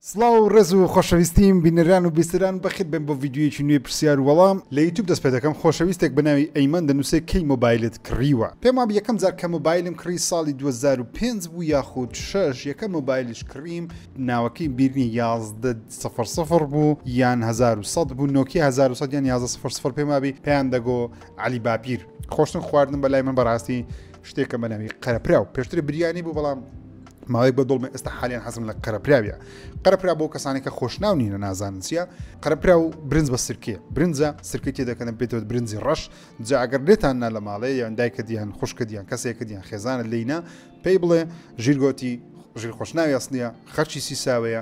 سڵاو و ڕێز و خۆشەویستیم بینەران و بیسەران بەخێر بێن بۆ ڤیدیۆیەکی نوێی پرسیار و وەڵام لە یوتوب دەست پێ دەکەم خۆشەویستێک بە ناوی ئەیمەن دەنووسێ کەی مۆبایلت کڕیوە پێم وابێ یەکەم جار کە مۆبایلم کڕی ساڵی دوو هەزار و پێنج بوو یاخود شەش یەکەم مۆبایلیش کڕیم ناوەکەی بیر نیە یازدە سفر سفر بوو یان هەزار و سەد بوو نۆکیە هەزار و سەد یان یازدە سفر سفر پێم وابی پێیان دەگۆ عەلی باپیر خۆشتن خواردن بەلای من بەڕاستی شتێکە بە ناوی قەرەپراو پێشتر بریانی بوو بەڵام ماوەیەک بە دڵمە ئێستا حالیان حەزم لە قەرەپراویە قەرەپرا بۆ کەسانی کە خۆشناو نینە نازانن چیە قەرەپرا و برنج بە سرکێ برنجە سرکی تێ دەکەن بێتەوە برنجی ڕەش جا ئەگەر لێتان نا لە ماڵێ یان دایکە دیان خوشکە دیان کەسێکە دیان خێزانە لینە پێی بڵێ ژیرگۆتی ژیر خۆشناوی ئەسنیە خەرچی سیساوەیە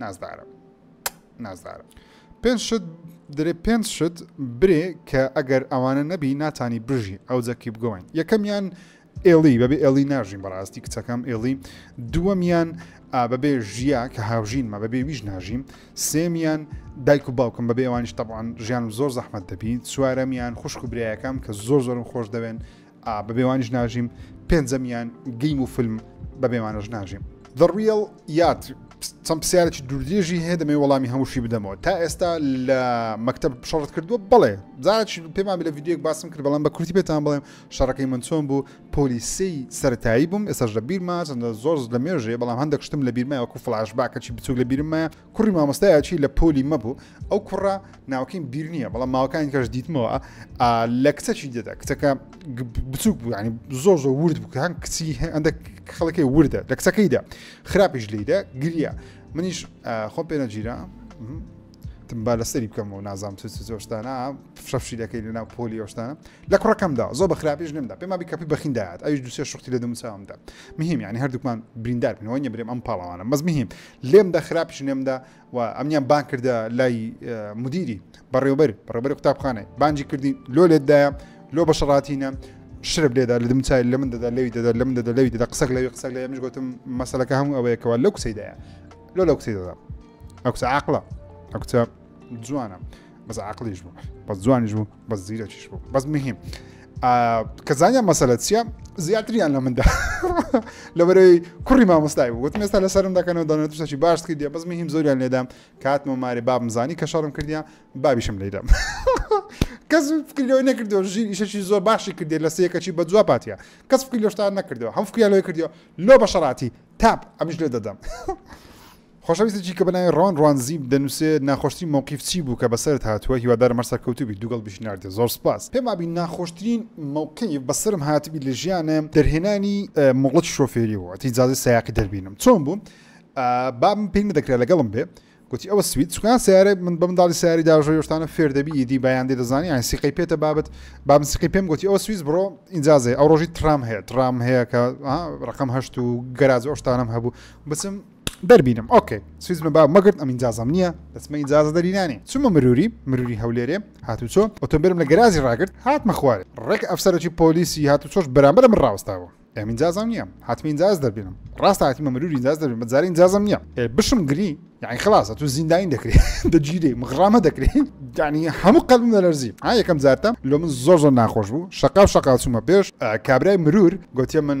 نازدارم نازدارم پێنج شت درێ پێنج شت برێ کە ئەگەر ئەوانە نەبی ناتانی بژی ئەو جەکی بگۆین یەکەمیان ئێڵی بەبێ ئێڵی ناژین بەڕاستی کچەکەم ئێڵی دووەمیان بەبێ ژیا کە هاوژینمە بەبێ ویش ناژیم سێمیان دایک و باوکم بەبێ ئەوانیش تەبان ژیان زۆر زەحمت دەبی چوارەمیان خوشک و برایەکەم کە زۆر زۆرم خۆش دەوێن ئا بەبێ وانیش ناژیم پێنجەمیان گەیم و فیلم بەبێ وانەش ناژیم The Real Yard چەند پرسیارێکی دوورێژی هەیە دەمێ وەڵامی هەمووشی بدەمەوە تا ئێستا لە مەکتب شەڕت کردووە بڵێ زارچ پێمان لە یددیوک باسم کرد بەڵام بە کورتی پێتان بڵێم شەڕەکەی من چۆن بوو پۆلیسی سەتایی بووم ئێستا لە بیرما چەندە زۆر لە مێژێ بەڵام هەندێک شتم لە بیرمای وەکو فلاش باکەچی بچوک لە بیرمە کوڕی مامۆستایە چی لە پۆلی مەبوو ئەو کوڕە ناوکەین بیر نییە بەڵام ماوەکانی کەش دیتمەوە لە کچەکی دێدا کچەکە بچووک بوو ینی زۆر زۆر ورد بکەن کچی هەندە خەڵکی وردە لە کچەکەیدا خراپیش لیدا گریا منیش خۆ پێنەگیرا با لەسەری بکەم و نازام چ زۆشتانە فشەفشی دەکەی لە ناو پۆلی ئەوشتانە لە کوڕەکەمدا زۆر بە خراپیش نمدا پێما بیکەپی بەخینداات ئەوش دوسێ شختی لە دەموچاومدا مهم یعنی هەردووکمان بریندار بنەوە نیە برێم ئەم پاڵەوانە مەزمهم لێم دا خراپیشم لێم دا و ئەمنیان بان کردە لای مدیری بەڕێوبەر بەڕێبەری قوتابخانەی بانجی کردی لۆ لێتدایە لۆ بەشڕاتینە شرب لێدا لە دمچای لە من دەدا لەوی دەدا لە من دەدا لەوی دەدا قسەک لەوی قسەک لە ئەمش گوتم مەسلەکە هەموو ئەوەیەکەوە لەو قسەیدایە لۆ لەو قسەی دەدا ئەو قسە عقلە ئەو قسە جوانە بەس عقلیش بوو بەس جوانیش بوو بەس زیرەکیش بوو بەس مهم کە زانیان مەسەلە چیە زیاتریان لە مندا لەبەرەوەی کوڕی مامۆستای بوو وتم ئێستا لە سەرم دەکەنەوە دەنەتشتەکی باش کردی بەس مهم زۆریان لێدام کاتمە مارێ بابم زانی کە شەڕم کردیا بابیشم لێدەم کەس فکرەوەی نەکردەوە ژیر ئیشەکی زۆر باشی کردێت لە سەکەچی بە جواب پاتە کەس فکری لەشتان نەکردەوە هەم فکریان لەوەی کردەوە لۆ بە شەراتی تاپ ئەمیش لێ دەدەم خۆشەویستێکی کە بە ناوی ڕۆن ڕۆنزیب دەنووسێت ناخۆشترین مەوقیف چی بوو کە بەسەرت هاتووە هیوادارم هەر سەرکەوتوو بیت دووگڵ بژناردە زۆر سوپاس پێم وابی ناخۆشترین مەوقیف بەسەرم هاتبی لە ژیانم دەرهێنانی مۆڵەتی شۆفێری بوو ئەتەی جازی سایەقی دەربینم چۆن بوو بابم پێی نەدەکرا لەگەڵم بێ گوتی ئەوە سویت سوکان سیارە من بە منداڵی سیاری داژۆ یۆشتانە فێر دەبی دی بەیان دێ دەزانی یان سیقەی پێتە بابت بابم سیقی پێم گوتی ئەوە سویز بڕۆ ئینجازێ ئەو ڕۆژی ترام هەیە ترام هەیە کە ڕقم هەشت و گەراز ئۆشتانم هەبوو بچم دەربینم ئۆکەی سویزمە با مەگرت ئەم ئینجازەم نییە دەچمە ئینجازە دەرینانێ چوومە مروری مروری هەولێرێ هاتوچۆ ئۆتۆمبیلم لە گەراجی ڕاگرت هاتمە خوارێ ڕێک ئەفسەرەکی پۆلیسی هاتوچۆش بەرامبەرە من ڕاوەستاوە ئەم ئینجازەم نییە هاتمە ئینجاز دەربینم ڕاست هاتیمە مروری ئینجاز دەربین بە جارە ئینجازەم نییە ئێ بشم گری یعنی خلاصە تو زینداین دەکرێت دەگیرێ مغرامە دەکرێت یعنی هەموو قەلم دەلەرزی ها یەکەم جارتە لۆ من زۆر زۆر ناخۆش بوو شقا و شقا چوومە پێش کابرای مرور گوتیە من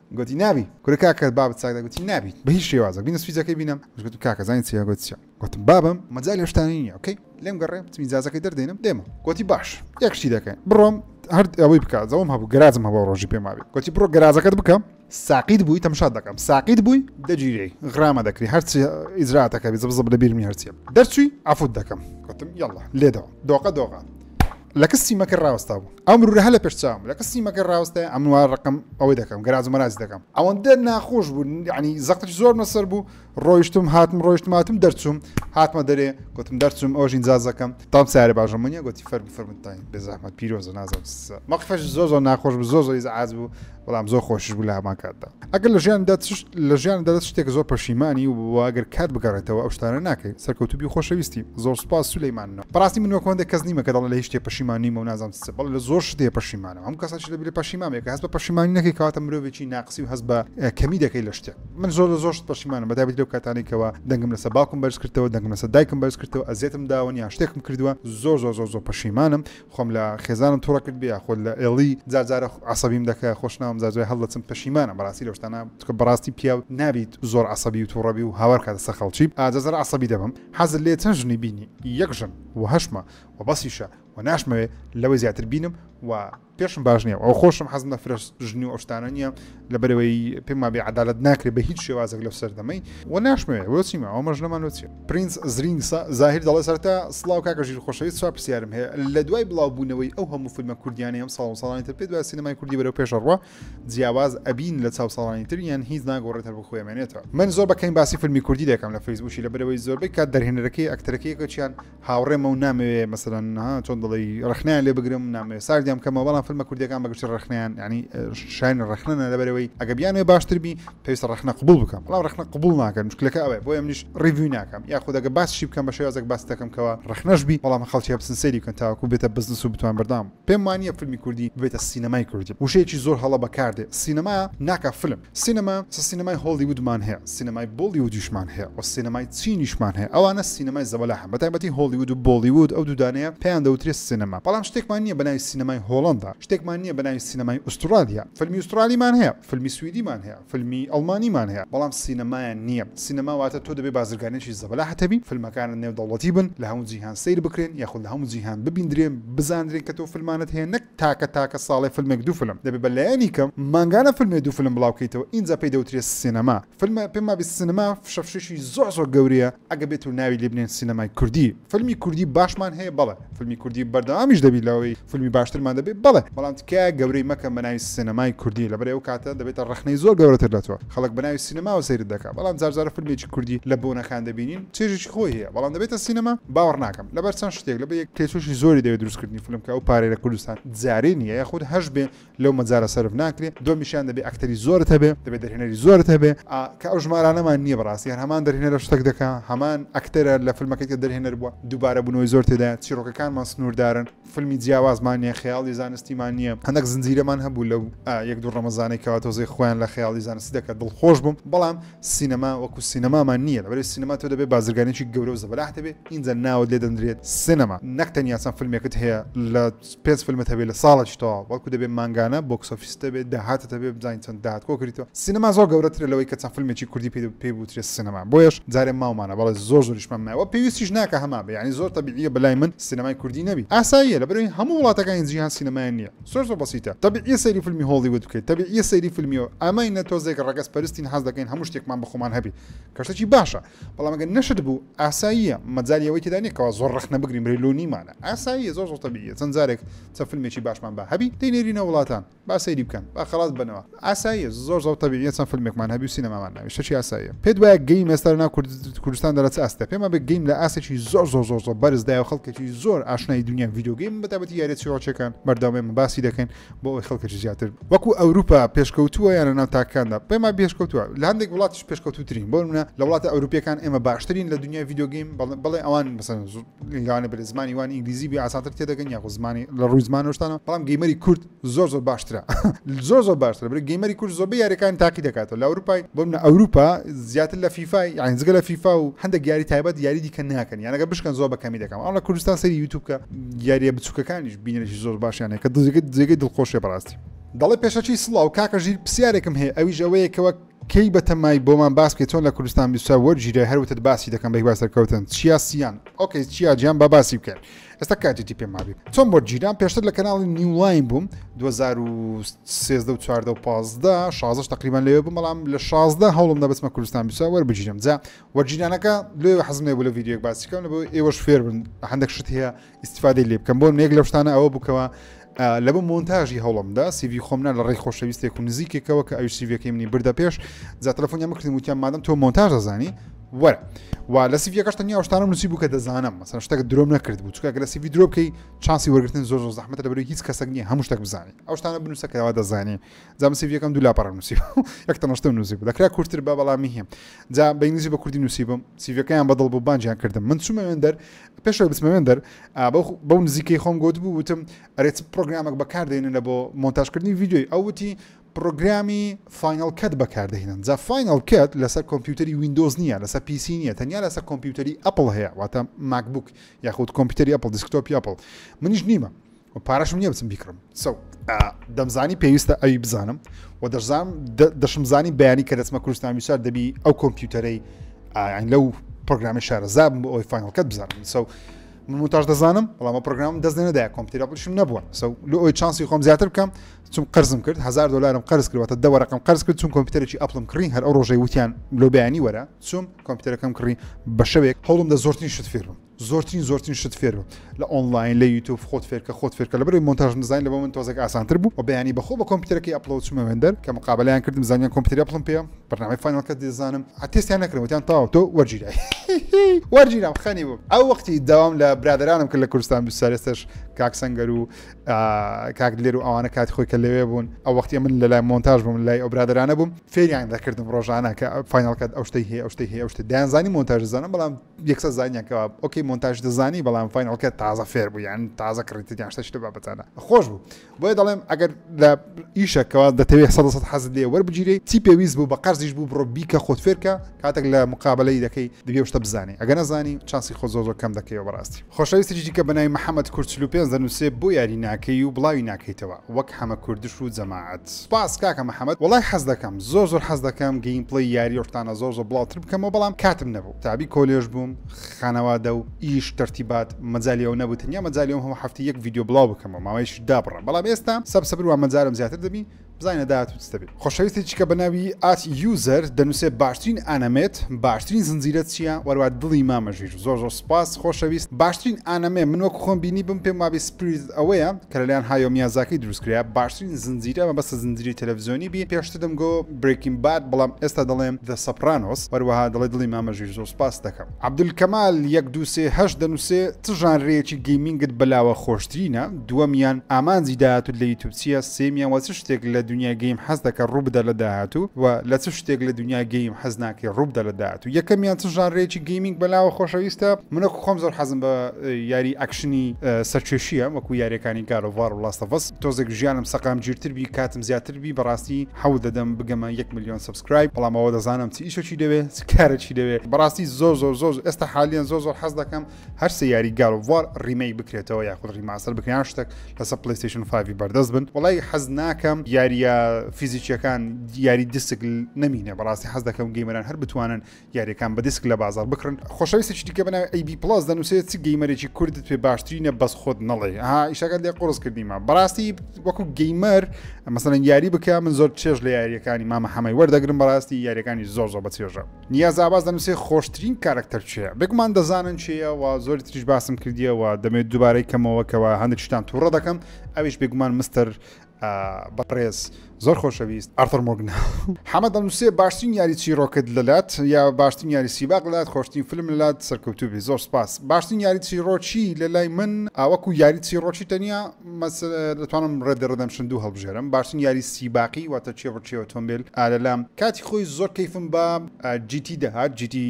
گۆتی، نابی! کورە کاکە بابت ساک دەکەم، گۆتی، نابی بە هیچ شێوازێک، بینە سویچەکەی بینم، منیش گۆتم، کاکە زانی چیە؟ گۆتی، چیە؟ گۆتم، بابم مەجالی ئەو شتانە نیە، ئۆکەی، لێم گەڕێ، وتم، ئیجازەکەی دەردێنم دێمەوە، گۆتی، باش یەک شتی دەکەین، بڕۆم هەر ئەوەی بکە، زەوم هەبوو گەراجم هەبوو ئەو ڕۆژی پێم وابی، گۆتی، بڕۆ گەراجەکەت بکە، ساقیت بووی تەمشات دەکەم، ساقیت بووی دەگیرێی، غرامە دەکری، هەرچی ئیجرائاتەکە بێ، زەبزەب لەبیرم نیە هەرچیە، دەرچووی عەفوت دەکەم، گۆتم، یەڵڵا لێدەوە، دۆقە دۆقە. لە کستی مەکر ڕاوەستا بوو ئەو مرورە هەلە پێش چاوم لە کەسی مەکە ڕاوستای ئەمنوا ڕقم ئەوەی دەکەم گەراج مەراج دەکەم ئەوەندە ناخۆش بوو ینی زەقت زۆر مەسەر بوو ڕۆیشتم هاتم ڕۆیشتماتم دەرچوم هاتمە دەرێ گوتم دەرچوم ئەوژین جازەکەم تام سارە باشەمونە گوتی فەرمی فەرمتانی بێزەحمەت پیرۆزە نازم مەخفەش زۆر زۆر ناخۆش بوو زۆر زۆری عاز بوو بەڵام زۆر خۆشیش بوو لە هەمان کاتدا ئەگەر لە ژیاندا لە ژیاندا دەست شتێک زۆر پەشیمانی و ئەگەر کات بگەڕێتەوە ئەو شتانە ناکەی سەرکەوتوبی و خۆشەویستی زۆر سوپاس سولەیمانەوە بەڕاستی من وەک هەندێک کەس نیمە کە دەڵێ لە هیچ شتێ پەشیمان نیمە و نازانم چ بەڵێ لە زۆر شتێ پەشیمانم هەموو کەسێکی لە بیرە پەشیمامێک هەست بە پەشیمانی نەکەی کەواتە مرۆڤێکی ناقسی و هەست بە کەمی دەکەی لە شتێک من زۆر لە زۆر شت پەشیمانم بەتابەتی لەو کاتانی کەەوە دەنگم لەسە باوکم بەرز کردەوە دەنگم لەسە دایکم بەرز کردەوە ئەزیەتم داوە یا شتێکم کردووە زۆر زۆر زۆر زۆر پەشیمانم خۆم لە خێزانم توڕە کرد بێ خۆت لە ئێڵی جار جارە عەسەبیم دەکە خۆش ناوم جار جای هەڵدەچم پەشیمانم بەڕاستی لەو شتانە چونکە بەڕاستی پیاو نابیت زۆر عەسەبی و توڕە بی و هاوار بکاتە سەر خەڵکی ئا جار جارە عەسەبی دەبم حەزت لێیە چەن ژنی بینی یەک ژن وە هەشمە وە بەسیشە وە ناشمەوێ لەوەی زیاتر بینم وە پێشم باش نیە وە خۆشم حەزم لە فرە ژنی و ئەو شتانە نیە لەبەرەوەی پێم وابێ عدالت ناکرێت بە هیچ شێوازێک لەو سەردەمەی و ناشمەوێ بۆچی ماوە مەش لەمان وچێ پرینس زرینگ زاهر دەڵێ سەرتا سلااو کاکە ژیر خۆشەویست چا پرسیارم هەیە لە دوای بڵاوبوونەوەی ئەو هەموو فیلمە کوردیانی ئەم ساڵ ساڵانی تر پێ دوای سینەمای کوردی بەرەو پێشەڕوە جیاواز ئەبین لە چاو ساڵانی تر یان هیچ ناگۆڕێت هەر بخوێمێنێتەوە من زۆر بەکەین باسی فیلمی کوردی دەکەم لە فەیسبووشی لە برەوەی زۆربەی کات دەرهێنەرەکەی ئەکتەرەکەیەکەچیان هاوڕێمە و نامەوێ مەسەلەن ها چۆن دەڵێی ڕەخنەیان لێ بگرم نامەوێ ساردیان بکەمەوە بەڵام فیلمە کوردیەکان بەگشتی ڕەخنەیان ینی شاین ڕەخنە لەبەرەوەی ئەگە بیانێ باشتر بی پێویستە ڕەخنە قبول بکەم بەڵام ڕەخنە قبول ناکەن مشکلەکە ئەوێ بۆ ئەمنیش ڕیڤوی ناکەم یا خودەگە باسشی بکەم بە شێوازێک باس دەکەم کەەوە ڕەخنەش بی بەڵام خەڵکی هەبسن سەیری بکەن تاوەکو بێتە بزنس و بتوان بەردام پێم وانە فیلمی کوردی بێتە سینەمای کوردی وشەیەکی زۆر هەڵە بەکاردێ سینەما ناکە فیلم سینەما چ سینەمای هۆڵیوودمان هەیە، سینەمای بۆڵیوودیشمان هەیە و سینەمای چینیشمان هەیە، ئەوانە سینەمای زەبەلاحن، بەتایبەتی هۆڵیوود و بۆڵیوود، ئەو دوو دانەیە پێیان دەوترێت سینەما، بەڵام شتێکمان نییە بەناوی سینەمای هۆڵەندا، شتێکمان نییە بەناوی سینەمای ئوسترالیا، فیلمی ئوسترالیمان هەیە، فیلمی سویدیمان هەیە، فیلمی ئەڵمانیمان هەیە، بەڵام سینەمایان نییە، سینەما واتە تۆ دەبێت بازرگانێکی زەبەلاحت هەبی، فیلمەکانت نێودەوڵەتی بن، لە هەموو جیهان سەیر بکرێن، یاخود لە هەموو جیهان ببیندرێن، بزاندرێن کە تۆ فیلمانت هەیە، نەک. تاکە تاکە ساڵێ فلمێک دوو فلم دەبێ بە لایەنی کەم مانگانە فلمێ دوو فلم بڵاو کەیتەوە ئینجا پێی دەوترێ سینەما فلمە پێم وابێ سینەما فشە فشەشی زۆر زۆر گەورەیە ئەگە بێتو ناوی لێ بنێن سینەمای کوردی فلمی کوردی باشمان هەیە بەڵێ فلمی کوردی بەردەوامیش دەبی لەوەی فلمی باشترمان دەبێ بەڵێ بەڵام تکایە گەورەی مەکەن بە ناوی سینەمای کوردی لەبەر ئەو کاتە دەبێتە ڕەخنەی زۆر گەورەتر لە تۆ خەڵک بە ناوی سینەماوە سەیرت دەکا بەڵام جار جارە فلمێکی کوردی لە بۆنەکان دەبینین چێژێکی خۆی هەیە بەڵام دەبێتە سینەما باوەڕ ناکەم. لەبەر چەند شتێک لەبەر یەک تێچووی زۆری دەوێت دروستکردنی فیلم کە ئەو پارەی لە کوردستان جارێ نییە یاخود هەش بێ لەو مەجارە سەرف ناکرێت دومیشیان دەبێ ئەکتەری زۆرت هەبێ دەبێت دەرهێنەری زۆرت هەبێ کە ئەو ژمارانەمان نییە بەڕاستی هەر هەمان دەرهێنەرە شتەک دەکا هەمان ئەکتەرە لە فیلمەکەی کە دەرهێنەر بووە دووبارە بوونەوەی زۆر تێدایە چیرۆکەکانمان سنووردارن فیلمی جیاوازمان نیە خەیاڵی زانستیمان نیە هەندەک زنجیرەمان هەبوو لەو یەک دوو ڕەمەزانەی کەوا تۆزێ خۆیان لە خەیاڵی زانستی دەکەن دڵخۆش بووم بەڵام سینەما وەکو سینەمامان نیە لەبەرەی سینەما تۆ دەبێ بازرگانێکی گەورە و زەبەلاح دەبێ ئینجا ناوت لێ دەنرێت سینەما نەک تەنیا چەند فیلمێکت هەیە لە پێنج فیلمت هەبێ لە ساڵێکی تەواو بەڵکو دەبێ مانگانە بۆکس ئۆفیست دەبێ داهاتت هەبێ بزانین چەند داهات کۆ کریتەوە سینەما زۆر گەورەترە لەوەی کە چەند فیلمێکی کوردی پێ پێ بوترێت سینەما بۆیەش جارێ ماومانە بەڵێ زۆر زۆریشمان مایەوە پێویستیش ناکە هەمان بێ یانی زۆر تەبیعیە بەلای من سینەمای کوردی نەبی ئاساییە لەبەروی هەموو وڵاتەکانی جیهان سینەمایان نیە زۆر زۆر بەسیتە تەبیعیە سەیری فلمی هۆڵیود بکەی تەبیعیە سەیری فلمی ئەمەی نە تۆزێک ڕەگەز پەرستین حەز دەکەین هەموو شتێکمان بەخۆمان هەبی کەشتەکی باشە بەڵام گەر نەشت بوو ئاساییە مەجای ئەوەی تێدا نیە کەوا زۆر ڕەخنە بگرین بری لۆ نیمانە ئاساییە زۆر زۆر تەبیعیە چەند جارێک چە فلمێکی باشمان با هەبی دەینێرینە وڵاتان با سەیری بکەن با خەڵاس ببەنەوە ئاساییە زۆر زۆر تەبیعیە چەند فیلمێکمان هەبی و سینەمامان ناوی شەشی ئاساییە پێت وایە گەیم ئێستا لەناو کوردستان دەرە چ ئاستە پێما بێ گەیم لە ئاسێکی زۆر زۆر زۆر زۆر بەرزدای و خەڵکێکی زۆر ئاشنای دنیا ڤیددیوگەیم بەتابەتی یارە چیڕۆچەکان بەردەوامێمە باسی دەکەین بۆ ئەوی خەڵکەکی زیاتر وەکو ئەوروپا پێشکەوتووە یان لەناو تاکاندا پێما بێشکەوتووە لە هەندێک وڵاتیش پێشکەوتوترین بۆ منە لە وڵاتە ئەوروپیەکان ئێمە باشترین لە دنیا ڤیددیوگەیم بەڵێ ئەوان بەسەن لەوانەیە بەرێ زمانی وان ئینگلیزی بێ ئاسانتر تێدەگەن یاخۆ زمانی لە ڕووی زمان شتانە بەڵام گەیمەری کورد زۆر زۆر باشترە زۆر زۆر باشتر برێ گەیمەری کورد زۆربە یاریەکان تاقی دەکاتەوە لە ئەوروپای بۆ منە ئەوروپا زیاتر لە فیفای یان زگە لە فیفا و هەندە گیاری تایبەت یاری دیکە ناکەن یانەکە بشکەن زۆر بەکەمی دەکەم ئەڵە کوردستان سەری یوتوب کە یاریە بچووکەکانیش بینەشی زۆر باشیانە کە دزگەت جێگەی دڵخۆشێ بەڕاستی دەڵێ پێشەچی سڵاو کاکە ژیر پرسیارێکم هەیە ئەویش ئەوەیە کەوە کەی بەتەمای بۆمان باس بکەی چۆن لە کوردستان بیست و چوار وەرگیرای هەر وتت باسی دەکەم بە هیوا سەرکەوتن چیا سیان ئۆکەی چیا جیان با باسی بکەن ئێستا کاتێتی پێ مابی چۆن وەرگیران پێشتر لە کەناڵی نیولاین بووم 2013 و 14 و 15 16 تقریبان لەوێ بووم بەڵام لە 16 هەوڵم دەبستمە کوردستان بیست و چوار وەربگیرم جا وەرگیرانەکە لێ حەزم لێ بوو لە ڤیدیۆک باسی بکەم لە بۆ ئێوەش فێر بن هەندێک شت هەیە ئیستیفادەی لێ بکەم بۆن یەک لەو شتانە ئەوە بکەوە لە بۆ مۆنتاژی هەوڵمدا سیوی خۆمنا لە ڕێی خۆشەویستێک و نزیکێکەوە کە ئەو سیوەکەی منی بردە پێش جا تەلەفۆنی مکردم وتیان مادەم تۆ مۆنتاژ دەزانی وەرە و لە سیڤەکەش تەنیا شتانم نووسی بوو کە دەزانم مەسەن شتەکە درۆم نەکرد بوو چکە لە سیوی درۆ بکەی چاسی وەرگتن زۆر زۆر زەحمەتە لەبەر هیچ کەسەک نیە هەموو شتێک بزانانی ئەو شتانە بنووسە کەەوە دەزانانی جام سیڤ یەکەم دوو لاپەڕە نووسیب یەک تەنەشتم نووسیب دەکرا کورتتر بە بەڵامی هیم جا بە ئینگلیزی بە کوردی نووسیبم سیڤەکەیان بەدڵ بوو بانجیان کردم من چومەوێن دەر پێشەوە بچمەوێن دەر بەو نزیکەی خۆم گوت بوو وتم ئەرێت پرۆگرامێک بەکاردێنە بۆ مۆنتاژکردنی ویددیوی ئەوتی پرۆگرامی فینال کەت بەکاردەهێنن جا فینال کەت لەسەر کۆمپیوتەری وینندۆز نییە لەسەر پیسی نیە تەنیا لەسەر کۆمپیوتەری ئەپل هەیە واتە ماکبوک یاخود کۆمپیوتەری ئەپل دیسکتۆپی ئەپل منیش نیمە پارەشم نییە بچم بیکڕم سەو دەمزانی پێویستە ئەوی بزانم و دەشزانم دەشم زانی بەیانی کە دەچمە کوردستان ویشار دەبی ئەو کۆمپیوتەرەی ئاین لەو پرۆگرامی شارەزاب بۆ ئەوی فانەکەت بزانم سەو منتاش دەزانم بەڵام پرۆگرام دەست نەدای کۆمپیوتەر بڵشم نەبووە سەو لە ئەوی چانسی خۆم زیاتر بکەم چون قرزم کرد هزار دلارم قرز کردوەتە دە ڕقم قرز کرد چون کۆمپیوتەرێکی ئەپلم کڕین هەر ئەو ڕۆژەی وتیان لۆبیانی وەرە چون کۆمپیوتەرەکەم کڕی بە شەوێک هەوڵم دە زۆرترین شت فێرم زۆرترین زۆرترین شت فێربە لە ئۆنلاین لە یوتوب خۆت فێرکە خۆت فێرکە لە بەری مۆنتاژ نزانین لە بۆ من تۆزێک ئاسانتر بوو و بەیانی بەخۆ بە کۆمپیوتەرەکەی ئەپلۆد چوومە وێندەر کە مقابلیان کردم زانیان کۆمپیوتەری ئەپڵم پێ بەرنامەی فاینەڵکە دەزانم ئەتێستیان نەکردم وتیان تەواو تۆ وەرگیرای وەرگیرام خەنی بوو ئەو وەختی داوام لە برادرانم کرد لە کوردستان بیسارێستش کاک سەنگەر و کاک لێر و ئەوانە کاتی خۆی کە لەوێ بوون ئەو وەختی من لە لای مۆنتاژ بووم لای ئەو برادرانە بووم فێریان دەکردم ڕۆژانە کە فاینەڵکەت ئەو شتەی هەیە ئەو شتەی هەیە ئەو شتە دایانزانی مۆنتاژ زانم بەڵام یەکسەر زانیان کەوا ئۆکەی مۆنتاژ دەزانی بەڵام فینەڵکە تازە فێر بوو یان تازە کڕیتت یان شتە شتە بابەتانە خۆش بوو بۆیە دەڵێم ئەگەر لە ئیشەکەەوە دەتەوێت سە سە حەز لێ وەربگیری چی پێویست بوو بە قەرزیش بوو بڕۆ بیکە خۆت فێرکە کاتێک لە مقابلەی دەکەی دەبێ شتە بزانانی ئەگە نەزانی چاسی خۆ زۆ زۆر کەم دەکەیەوە بەڕاستی خۆشەویستێکی کە بەناوی محەممەد کورچلو پێ دەنووسێ بۆ یاری ناکەی و بڵاوی ناکەیتەوە وەک حەمە کوردش و جەماعەت سپاس کاکە محەممەد وڵای حەز دەکەم زۆر زۆر حەز دەکەم گەیم پڵی یاری ڕتانە زۆر زۆر بڵاوتر بکەمەوە بەڵام کاتم نەبوو تەعبی کۆلێژ بووم خانەوادە و ئیش تەرتیبات مەجالی ئەوە نەبوو تەنیا مەجالی ئەوم هەموو هەفتەی یەک ڤیدیۆ بڵاو بکەمەوە ماوەیەکیش دابڕام بەڵام ئێستا سەب سەبر وان مەجالم زیاتر دەبی بزانە داهاتوو چ دەبێ خۆشەویستێکی کە بە ناوی ئات یوزەر دەنووسێ باشترین ئانەمێت باشترین زنجیرە چییە وەروا دڵی مامە ژیر زۆر زۆر سوپاس خۆشەویست باشترین ئانەمێ من وەکو خۆم بینی بم پێم وابێ سپریت ئەوەیە کە لەلایەن هایۆ میازاکی دروستکرا باشترین زنجیرە مەبەستە زنجیرەی تەلەڤزیۆنی بی پێشتر دەمگۆ برێکین باد بەڵام ئێستا دەڵێم ذە سەپرانۆس هەروەها دەڵێ دڵی مامە ژیر زۆر سوپاست دەکەم. عەبدولکەمال یەک دوو سێ هەشت دەنووسێ چ ژانرەیەکی گەیمینگت بەلاوە خۆشترینە؟ دووەمیان ئامانجی داهاتووت لە یوتوب چییە؟ سێیەمیان وە چ شتێک لە دونیای گەیم حەز دەکەت ڕوو بدات لە داهاتوو؟ وە لە چ شتێک لە دونیای گەیم حەز ناکەی ڕوو بدات لە داهاتوو؟ یەکەمیان چ ژانرەیەکی گەیمینگ بەلاوە خۆشەویستە؟ من وەکو خۆم زۆر حەزم بە یاری ئەکشنی سەرکێشییە وەکو یاریەکانی گاد ئۆف وار و لاست ئۆف ئەس تۆزێک ژیانم سەقامگیرتر بی کاتم زیاتر بی بەڕاستی حەو دەدەم بگەمە یەک ملیۆن سبسکرایب بەڵام ئەوە دەزانم چ ئیشەکی دەوێ چ کارەکی دەوێ بەڕاستی زۆر زۆر زۆر ئێستا حالیان زۆر زۆر حەز دەکەم هەر سیاری گالڤوار ڕیمەی بکرێتەوە یاخود ڕیماسەر بکەیان شتێک لەسەر پلیستیشن فاوی بەردەست بن وڵی حەز ناکەم یاریە فیزیکیەکان یاری دیسک نمینە بەڕاستی حەز دەکەم گەیمەران هەر بتوانن یاریەکان بە دیسک لە بازار بکڕن خۆشەویستێکی دیکە بەناوی ئەیبی پڵاس دەنووسێت چ گەیمەرێکی کوردت پێ باشترینە بەس خۆت نەڵێ ها ئیشەکەت لێ قڕز کردیمە بەڕاستی وەکو گەیمەر مەسەن یاری بکە من زۆر چێژ لە یاریەکانی مامە حەمەی وەردەگرم بەڕاستی یاریەکانی زۆر زۆر بە چێژە نیازاباز دەنووسێ خۆشترین کارکتەر چێ بێگومان دەزانن چێە و زۆری تریش باسم کردیەوە دەمێت دووبارەی کەمەوە کەەوە هەندێک شتان تووڕە دەکەم ئەویش بێگومان مستەر بەڕێز زۆر خۆشەویست ئارتەر مۆگنا حەمە دەنووسێ باشترین یاری چیرۆکت لەلات یا باشترین یاری سیباق لات خۆشتین فیلم لەلات سەرکەوتوبی زۆر سپاس باشترین یاری چیرۆکی لە لای من ئاوەکو یاری چیرۆکی تەنیا دەتوانم ڕێدە ڕدەمشن دوو هەڵبژێرم باشترین یاری سیباقی واتە چێڕکی ئۆتۆمبیل ئالەلام کاتی خۆی زۆر کەیفم بە جیتی دەهات جیتی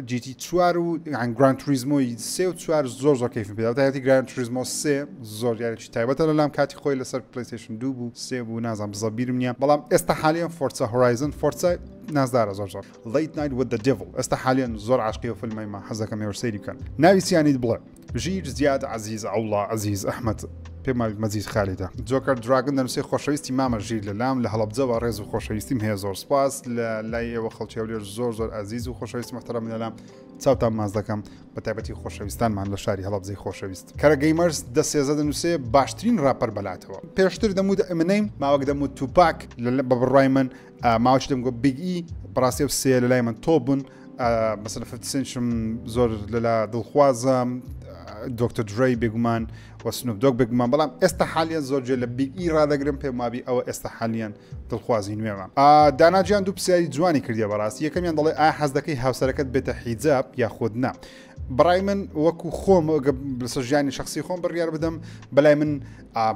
جیتی چوار و گرانتریزمۆی سێ و چوار زۆر زۆر کەیفم پێدا هاتی گرانتریزمۆ سێ زۆر یاری تایبەتە لەلام کاتی خۆی لەسەر پلەیستەیشن دوو بوو سێ بوو نازانم بزە بیرم نییە بەڵام ئێستا حالیان فۆرسا هۆرایزن فۆرسا نازدارە زۆر زۆر Late Night with the Devil ئێستا حالیان زۆر عاشقی و فیلمی ما حەزەکەم ێوە سەیری بکەن ناوی سیانیت بڵێ ژیر زیاد عزیز عوڵا عزیز ئەحمد پێماوی مەزیز خالیدا جۆکەر دراگن دەنووسی خۆشەویستی مامە ژیر لە لام لە هەڵبجەوە ڕێز و خۆشەویستیم هەیە زۆر سپاس لە لای ئێوە خەڵکی هەولێر زۆر زۆر ئازیز و خۆشەویست محتەرم لەلام چاوتان ماز دەکەم بە تایبەتی خۆشەویستانمان لە شاری هەڵەبجەی خۆشەویست کەرە گەیمەرس دە سێزە دەنووسێ باشترین ڕاپەر بەلاتەوە پێشتر دەموت ئەمنەیم ماوەک دەموت توپاک لە بە بڕای من ماوەش دەم گۆ بیگ ئی بەڕاستی و سێ لە لای من تۆ بوون مەسەفسنشم زۆر لەلا دڵخوازە دکتۆر درای بێگومان و سنوپ دۆگ بگمان بەڵام ئێستا حالیان زۆر جێ لە بیگ ئی ڕدەگرم پێم وابی ئەوە ئێستا حالیان دڵخوازی نوێمان داناجیان دوو پرسیاری جوانی کردی بەڕاستی یەکەمیان دەڵێ ئا حەز دەکەی هاوسەرەکەت بێتە حیجاب یاخود نا بڕای من وەکو خۆم لەسەر ژیانی شخصی خۆم بڕیار بدەم بەلای من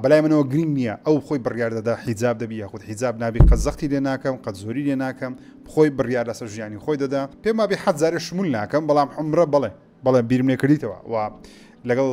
بەلای منەوە گرنگ نییە ئەو خۆی بڕیار دەدا حیجاب دەبی یاخود حیجاب نابی قە زەختی لێ ناکەم قەت زۆری لێ ناکەم خۆی بڕیار لەسەر ژیانی خۆی دەدا پێم وابی حەزارێ شمول ناکەم بەڵام عمرە بڵێ بەڵێ بیرم لێ کردیتەوە و لەگەڵ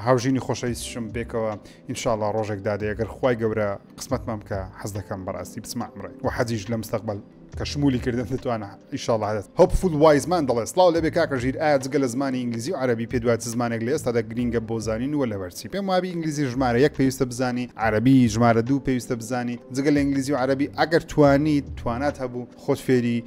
هاوژینی خۆشەویستشم بێکەوە ئینشاءڵا ڕۆژێک دادێ گەر خی گەورە قسمەتمان بکە حەز دەکەم بەڕاستی بسمە ئەمڕێ و حەزیش لە مستەقبل کە شمولی کردن دەتوانە ئیشاڵە هەدەست هەپ فول وایزمان دەڵێ سلااو لەبێ کاکە ژیر ئایا جگە لە زمانی ئینگلیزی و عربی پێ دوای زمانێک لە ئێستا دەگرینگە بۆ زانین وە لەبەرچی پێم وابی ئینگلیزی ژمارە یەک پێویستە بزانی عربی ژمارە دوو پێویستە بزانی جگە لە ئینگلیزی و عربی ئەگەر توانی توانات هەبوو خۆت فێری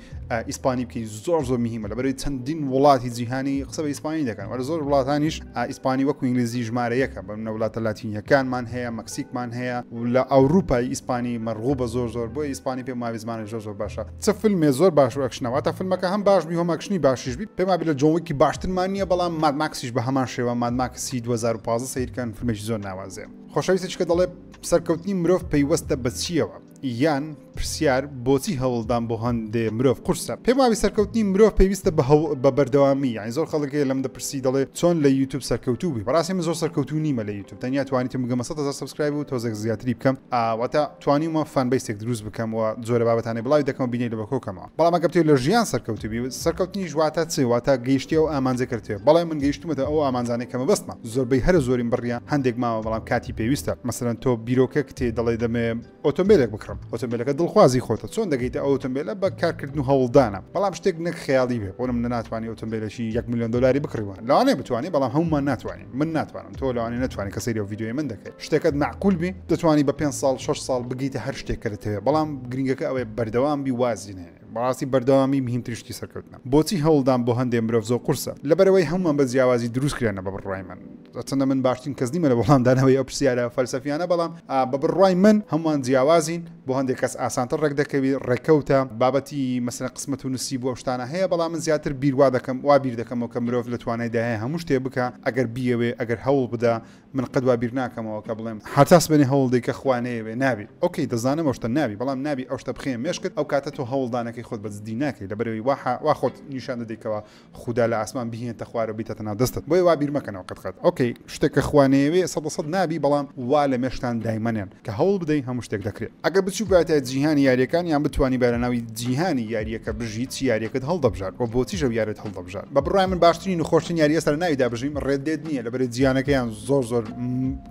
ئیسپانی بکەی زۆر زۆر مهمە لە بەرەی چەندین وڵاتی جیهانی قسە بە ئیسپانی دەکەن وەرە زۆر وڵاتانیش ئیسپانی وەکو ئینگلیزی ژمارە یەکە بە منە وڵاتە لاتینیەکانمان هەیە مەکسیکمان هەیە لە ئەوروپای ئیسپانی مەرغوو بە زۆر زۆر بۆ ئیسپانی پێ ماوی زمانە زۆر زۆر باشە چ فیلمێ زۆر باش و ئەکشنەوە تا فیلمەکە هەم باش بی هەمەکشنی باشیش بی پێما بلە جۆنگکی باشترمان نییە بەڵام مادماکسیش بە هەمان شێوە مادماکسی 2015 سیرکەن فیلمێکی زۆر ناوازێ خۆشەویستێکە دەڵێ سەرکەوتنی مرۆڤ پەیوەستە بەچیەوە یان پرسیار بۆچی هەوڵدان بۆ هەندێ مرۆڤ قورسە پێم وابی سەرکەوتنی مرۆڤ پێویستە بە هەوڵ بە بەردەوامی یانی زۆر خەڵکەکەی لەم دەپرسی دەڵێ چۆن لە یوتوب سەرکەوتوو بی بەڕاستی من زۆر سەرکەوتوو نیمە لە یوتوب تەنیا توانیتم بگەمە 100 هەزار سبسکرایب و تۆزێک زیاتری بکەم ئاواتە توانیمە فان بیسێک دروست بکەم و جۆرە بابەتانی بڵاوی دەکەم بینەری لە بەکۆکەمە بەڵام ئەگەر تێ لە ژیان سەرکەوتبی سەرکەوتنیش واتە چێ واتە گەیشتی ئەو ئامانجە کردێ بەڵێ من گەیشتمەتە ئەو ئامانجانەی کەمە بەستمە زۆربەی هەرە زۆرین بڕیە هەندێک ماوە بەڵام کاتی پێویستە مەسەرەن تۆ بیرۆکە کتێ دەڵێ دەمێ ئۆتۆمبیلێک بکڕم ئۆتۆمبیلەکە دڵخوازی خۆتە چۆن دەگەیتە ئەو ئۆتۆمبیلە بە کارکردن و هەوڵدانە بەڵام شتێک نەک خیاڵی بێ بۆنم ناتوانانی ئۆتۆمبیلەکی 1 میلیۆن دلاری بکڕیوە لەوانێ بتوانانی بەڵام هەمومان ناتوانین من ناتوانم تۆ لەوانی نتوانانی کە سری و ویددیوی من دەکەیت شتەکەت معقول بی دەتوانانی بە 5 سال 6 سال بگیتە هەر شتێک کە دەتەوێت بەڵام گرنگەکە ئەوەیە بەردەوام بی وازی نێ بەڕاستی بەردەوامی مهمترشتی سەرکەوتنە بۆچی هەوڵدان بۆ هەندێ مرۆڤ زۆ قورسە لەبەرەوەی هەمووان بە جیاوازی دروست کرێنە بە بڕای من چەندە من باشترین کەس نیمە لە وەڵامدانەوەی ئەو پرسیارە فەلسەفیانە بەڵام بە بڕای من هەمووان جیاوازین بۆ هەندێک کەس ئاسانتر ڕێکدەکەوی، ڕێکەوتە. بابەتی مەسەلەن قسمەت و نسیب و ئەو شتانە هەیە، بەڵام من زیاتر بیر وا دەکەم، وا بیر دەکەمەوە کە مرۆڤ لە توانایدا هەیە هەموو شتێ بکا ئەگەر بیەوێ، ئەگەر هەوڵ بدا. من قەت وا بیر ناکەمەوە کە بڵێم. هەتا سبەینێ هەوڵ دەی کە خوا نەیەوێ نابی. ئۆکەی دەزانم ئەو شتە نابی، بەڵام نابی ئەو شتە بخەیە مێشکت، ئەو کاتە تۆ هەوڵدانەکەی خۆت بە جدی ناکەی، لەبەرئەوەی وا خۆت نیشان دەدەی کەوا خودا لە ئاسمان بیهینێتە خوارەوە بیتەتە ناو دەستت بۆیە وا بیر مەکەنەوە قەت قەت ئۆکەی شتێک کە خوا نەیەوێ سەد لە سەد نابی بەڵام وا لە مێشکتان دایمەنێن کە هەوڵ بدەین هەموو شتێک دەکرێ ئەگەر بچووبایەتە جیهانی یاریەکان یان بتوانیبای لە ناوی جیهانی یاریەکە بژی چی یاریەکەت هەڵدەبژارد وە بۆچیش ئەو یارەت هەڵدەبژارد بە بڕای من باشترین و خۆشترین یاری ئێستا لە ناویدا بژیم ڕێد دێد نییە لەبەرەی جیانەکەیان زۆر زۆر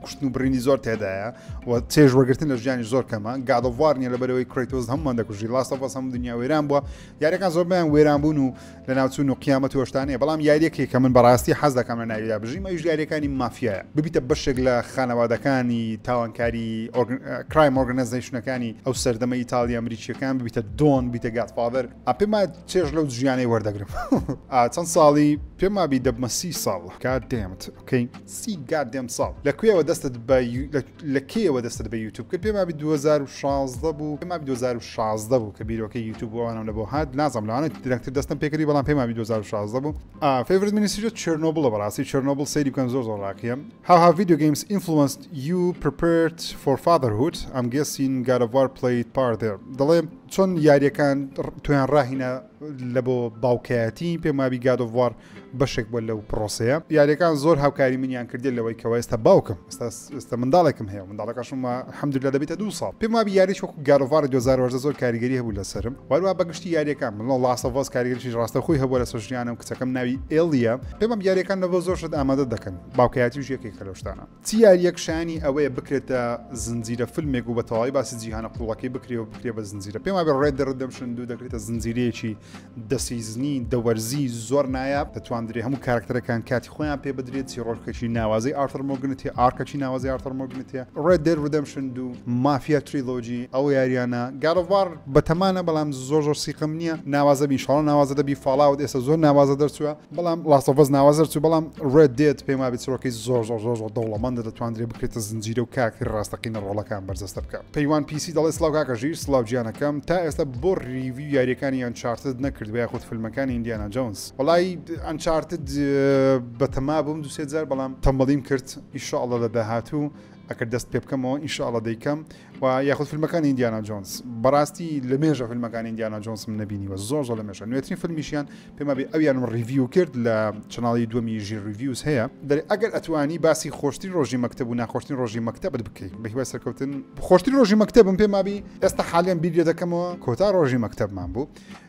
کوشتن و بڕینی زۆر تێدایە و چێژ وەرگرتن لە ژیانی زۆر کەمە گاد ئۆف وار نییە لەبەرەوەی کرەیتۆز هەمووان دەکوژی لاست ئۆف ئەس هەموو دنیا وێران بووە یاریەکان زۆربەیان وێران بوون و لەناوچون و قیامەت و ئەوشتانەیە بەڵام یاریەکێک کە من بەڕاستی حەز دەکەم لە ناویدا بژیم ئەویش یاریەکانی مافیایە ببیتە بەشێک لە خانەوادەکانی تاوانکاری کرایم ئۆرگنزیشنەکانی ئەو سەردەمە ئیتالیا ئەمریکیەکان ببیتە دۆن بیتە گاتفاادر ئەپێما چێژ لەو ژیانەی وەردەگرم چەند ساڵی پێما بی دەبمە سی ساڵ کات دێمت سی گات دێم ساڵ لە کوێوە دەستت بە لە کەیەوە دەستت بە یوتوب کرد پێم وابی 2016 بوو پێم وابی 2016 بوو کە بیرۆکەی یوتیوب بۆ ئەوانم لە بۆ هات نازم لەوانە درەنگتر دەستم پێکردی بەڵام پێم وابی 2016 بوو فیورت مینیسیرە چرنۆبڵە بەڕاستی چرنۆبل سەیری بکەن زۆر زۆر ڕاقیە هاها ڤیدیو گەیمز ئینفلوەنس یو پرپرت فۆر فادرهوت ئەم گەسین گارەوار پلیت پاردێ دەڵێ چۆن یاریەکان تویان ڕاهینە لە بۆ باوکایەتی پێم وابی گادۆڤوار بەشێک بووە لەو پرۆسەیە یاریەکان زۆر هاوکاری منیان کردێت لەوەی کەەوە ئێستا باوکم ئێستا منداڵێکم هەیە منداڵەکەشمە حەمدو لە دەبێتە دو ساڵ پێم وابی یاری وەکو گاروڤار 2010 زۆر کاریگەری هەبوو لەسرم وەروە بەگشتی یاریەکان من ڵاستەڤۆز کاریگەریی ڕاستە خۆی هەبوو لەسەر ژیانم کچەکەم ناوی ئێلیە پێمەم یاریەکان لەەوە زۆر شت ئامادە دەکەن باوکایەتی ژێکێک کەلۆشتانە چ یاریەک شایەنی ئەوەیە بکرێتە زنجیرە فلمێک و بە تەواوی باسی جیهانە قوڵەکەی بکرێ و بکرێ بە زنجیرە پێم وابێ ڕێد ڕدەمشن دوو دەکرێتە زنجیرەیەکی دەسیزنی دەوەرزی زۆر نایاب دەتواندرێ هەموو کارکتەرەکان کاتی خۆیان پێ بدرێت چیڕۆژکەشی ناوازەی ئارتەر مۆگنت هەیە ئارکەچی ناوازی ئارتەر مۆگنت هەیە ڕێد دەر ڕدەمشن دوو مافیا تریلۆجی ئەو یاریانە گاڵڤار بەتەمانە بەڵام زۆر زۆر سیقم نییە ناوازە بیشاڵ ناوازە دەبی فاڵاوت ئێستا زۆر ناوازە دەرچووە بەڵام لاستۆڤەز ناوازەر چوو بەڵام ڕێت دێت پێم وابێت سرۆکی زۆر زۆر زۆر زۆر دەوڵەمەندە دەتواندرێ بکرێتە زنجیرە و کاکتری ڕاستەقینە ڕۆڵەکان بەرجەستە بکە پەیوان پیسی دەڵێ سلااو کاکەژی سلااو گیانەکەم تا ئێستا بۆ ریوی یاریەکانی یان چارتت نەکرد بە یاخود فیلمەکانی ئیندیانا جونز وڵی ئەنچارتت بەتەما بووم دوسێ جار بەڵام تەمەڵیم کرد ئیشاءڵە لە داهاتوو ئەکرد دەست پێ بکەمەوە ئیشاءڵە دەیکەم و یاخود فیلمەکانی ئیندیانا جۆنس بەڕاستی لە مێژە فیلمەکانی ئیندیانا جۆنسم نبینیوە زۆر زۆر لە مێژە نوێترین فیلمیشیان پێما بێ ئەویانم ڕیڤیو کرد لە چناڵی دومی ژیر ریڤیوز هەیە دەێ ئەگەر ئەتوانی باسی خۆشتری ڕۆژی مەکتب و ناخۆشتنی ڕۆژی مەکتتەبت بکەیت بە هیوای سەرکەوتن خۆشتری ڕۆژی مەکتتەبم پێمابی ئێستا حالیان بیرێ دەکەمەوە کۆتا ڕۆژی مەکتتەبمان بوو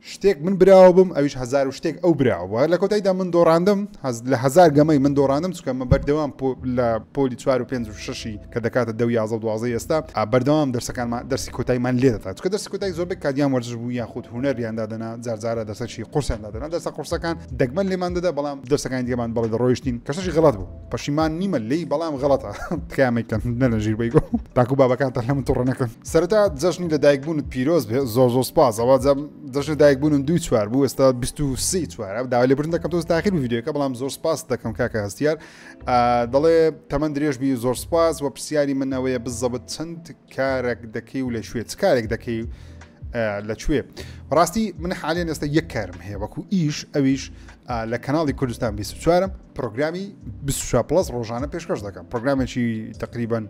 شتێک من براوە بم ئەویش هەزار و شتێک ئەو براوە بووە لە کۆتاییدا من دۆڕاندم هەز لە هەزار گەمەی من دۆڕاندم چکە من بەردەوام لە پۆلی چوار و پێنج و شەشی کە دەکاتە دە و یازە و دوازە ئێستا بەردەوام دەرسەکانمان دەرسی کۆتایمان لێ دەتا چکە دەرسی کۆتای زۆربەی کادیان وەرزش بوو یاخود هوەریان دادەنا جارجارە دەسەکی قورسیان دادەنا دەسە قورسەکان دەگمەن لێمان دەدا بەڵام دەسەکانی دیێمان بەڵێ دەڕۆیشتین کەسەشی غڵات بوو پەشیمان نیمە لی بەڵام غەڵەتە تکامێکتەن نەلە ژیر بەیگۆ تاکو بابەکانتان لە من توڕە نەکەن سەرتا جەژنی لە دایکبوونت پیرۆز بێ زۆر زۆر سپاسەوە جەژنە دایکبوونم دوی چوار بوو ئێستا 23 چوار داوا لێبرن دەکەم تۆز تاخیر ویددیوەکە بەڵام زۆر سپاس دەکەم کاکە هەستیار دەڵێ تەمەند درێژبی زۆر سپاس و پرسیاری من ئەوەیە بزەبت چەند کارێک دەکەی و لە شوێت کارێک دەکەی لەکوێ ڕاستی من حالیان ئێستا یەک کارم هەیە وەکو ئیش ئەویش لە کەناڵی کوردستان 24 پرۆگرامی 24 پلس ڕۆژانە پێشکەش دەکەم پرۆگرامێکی تقریبان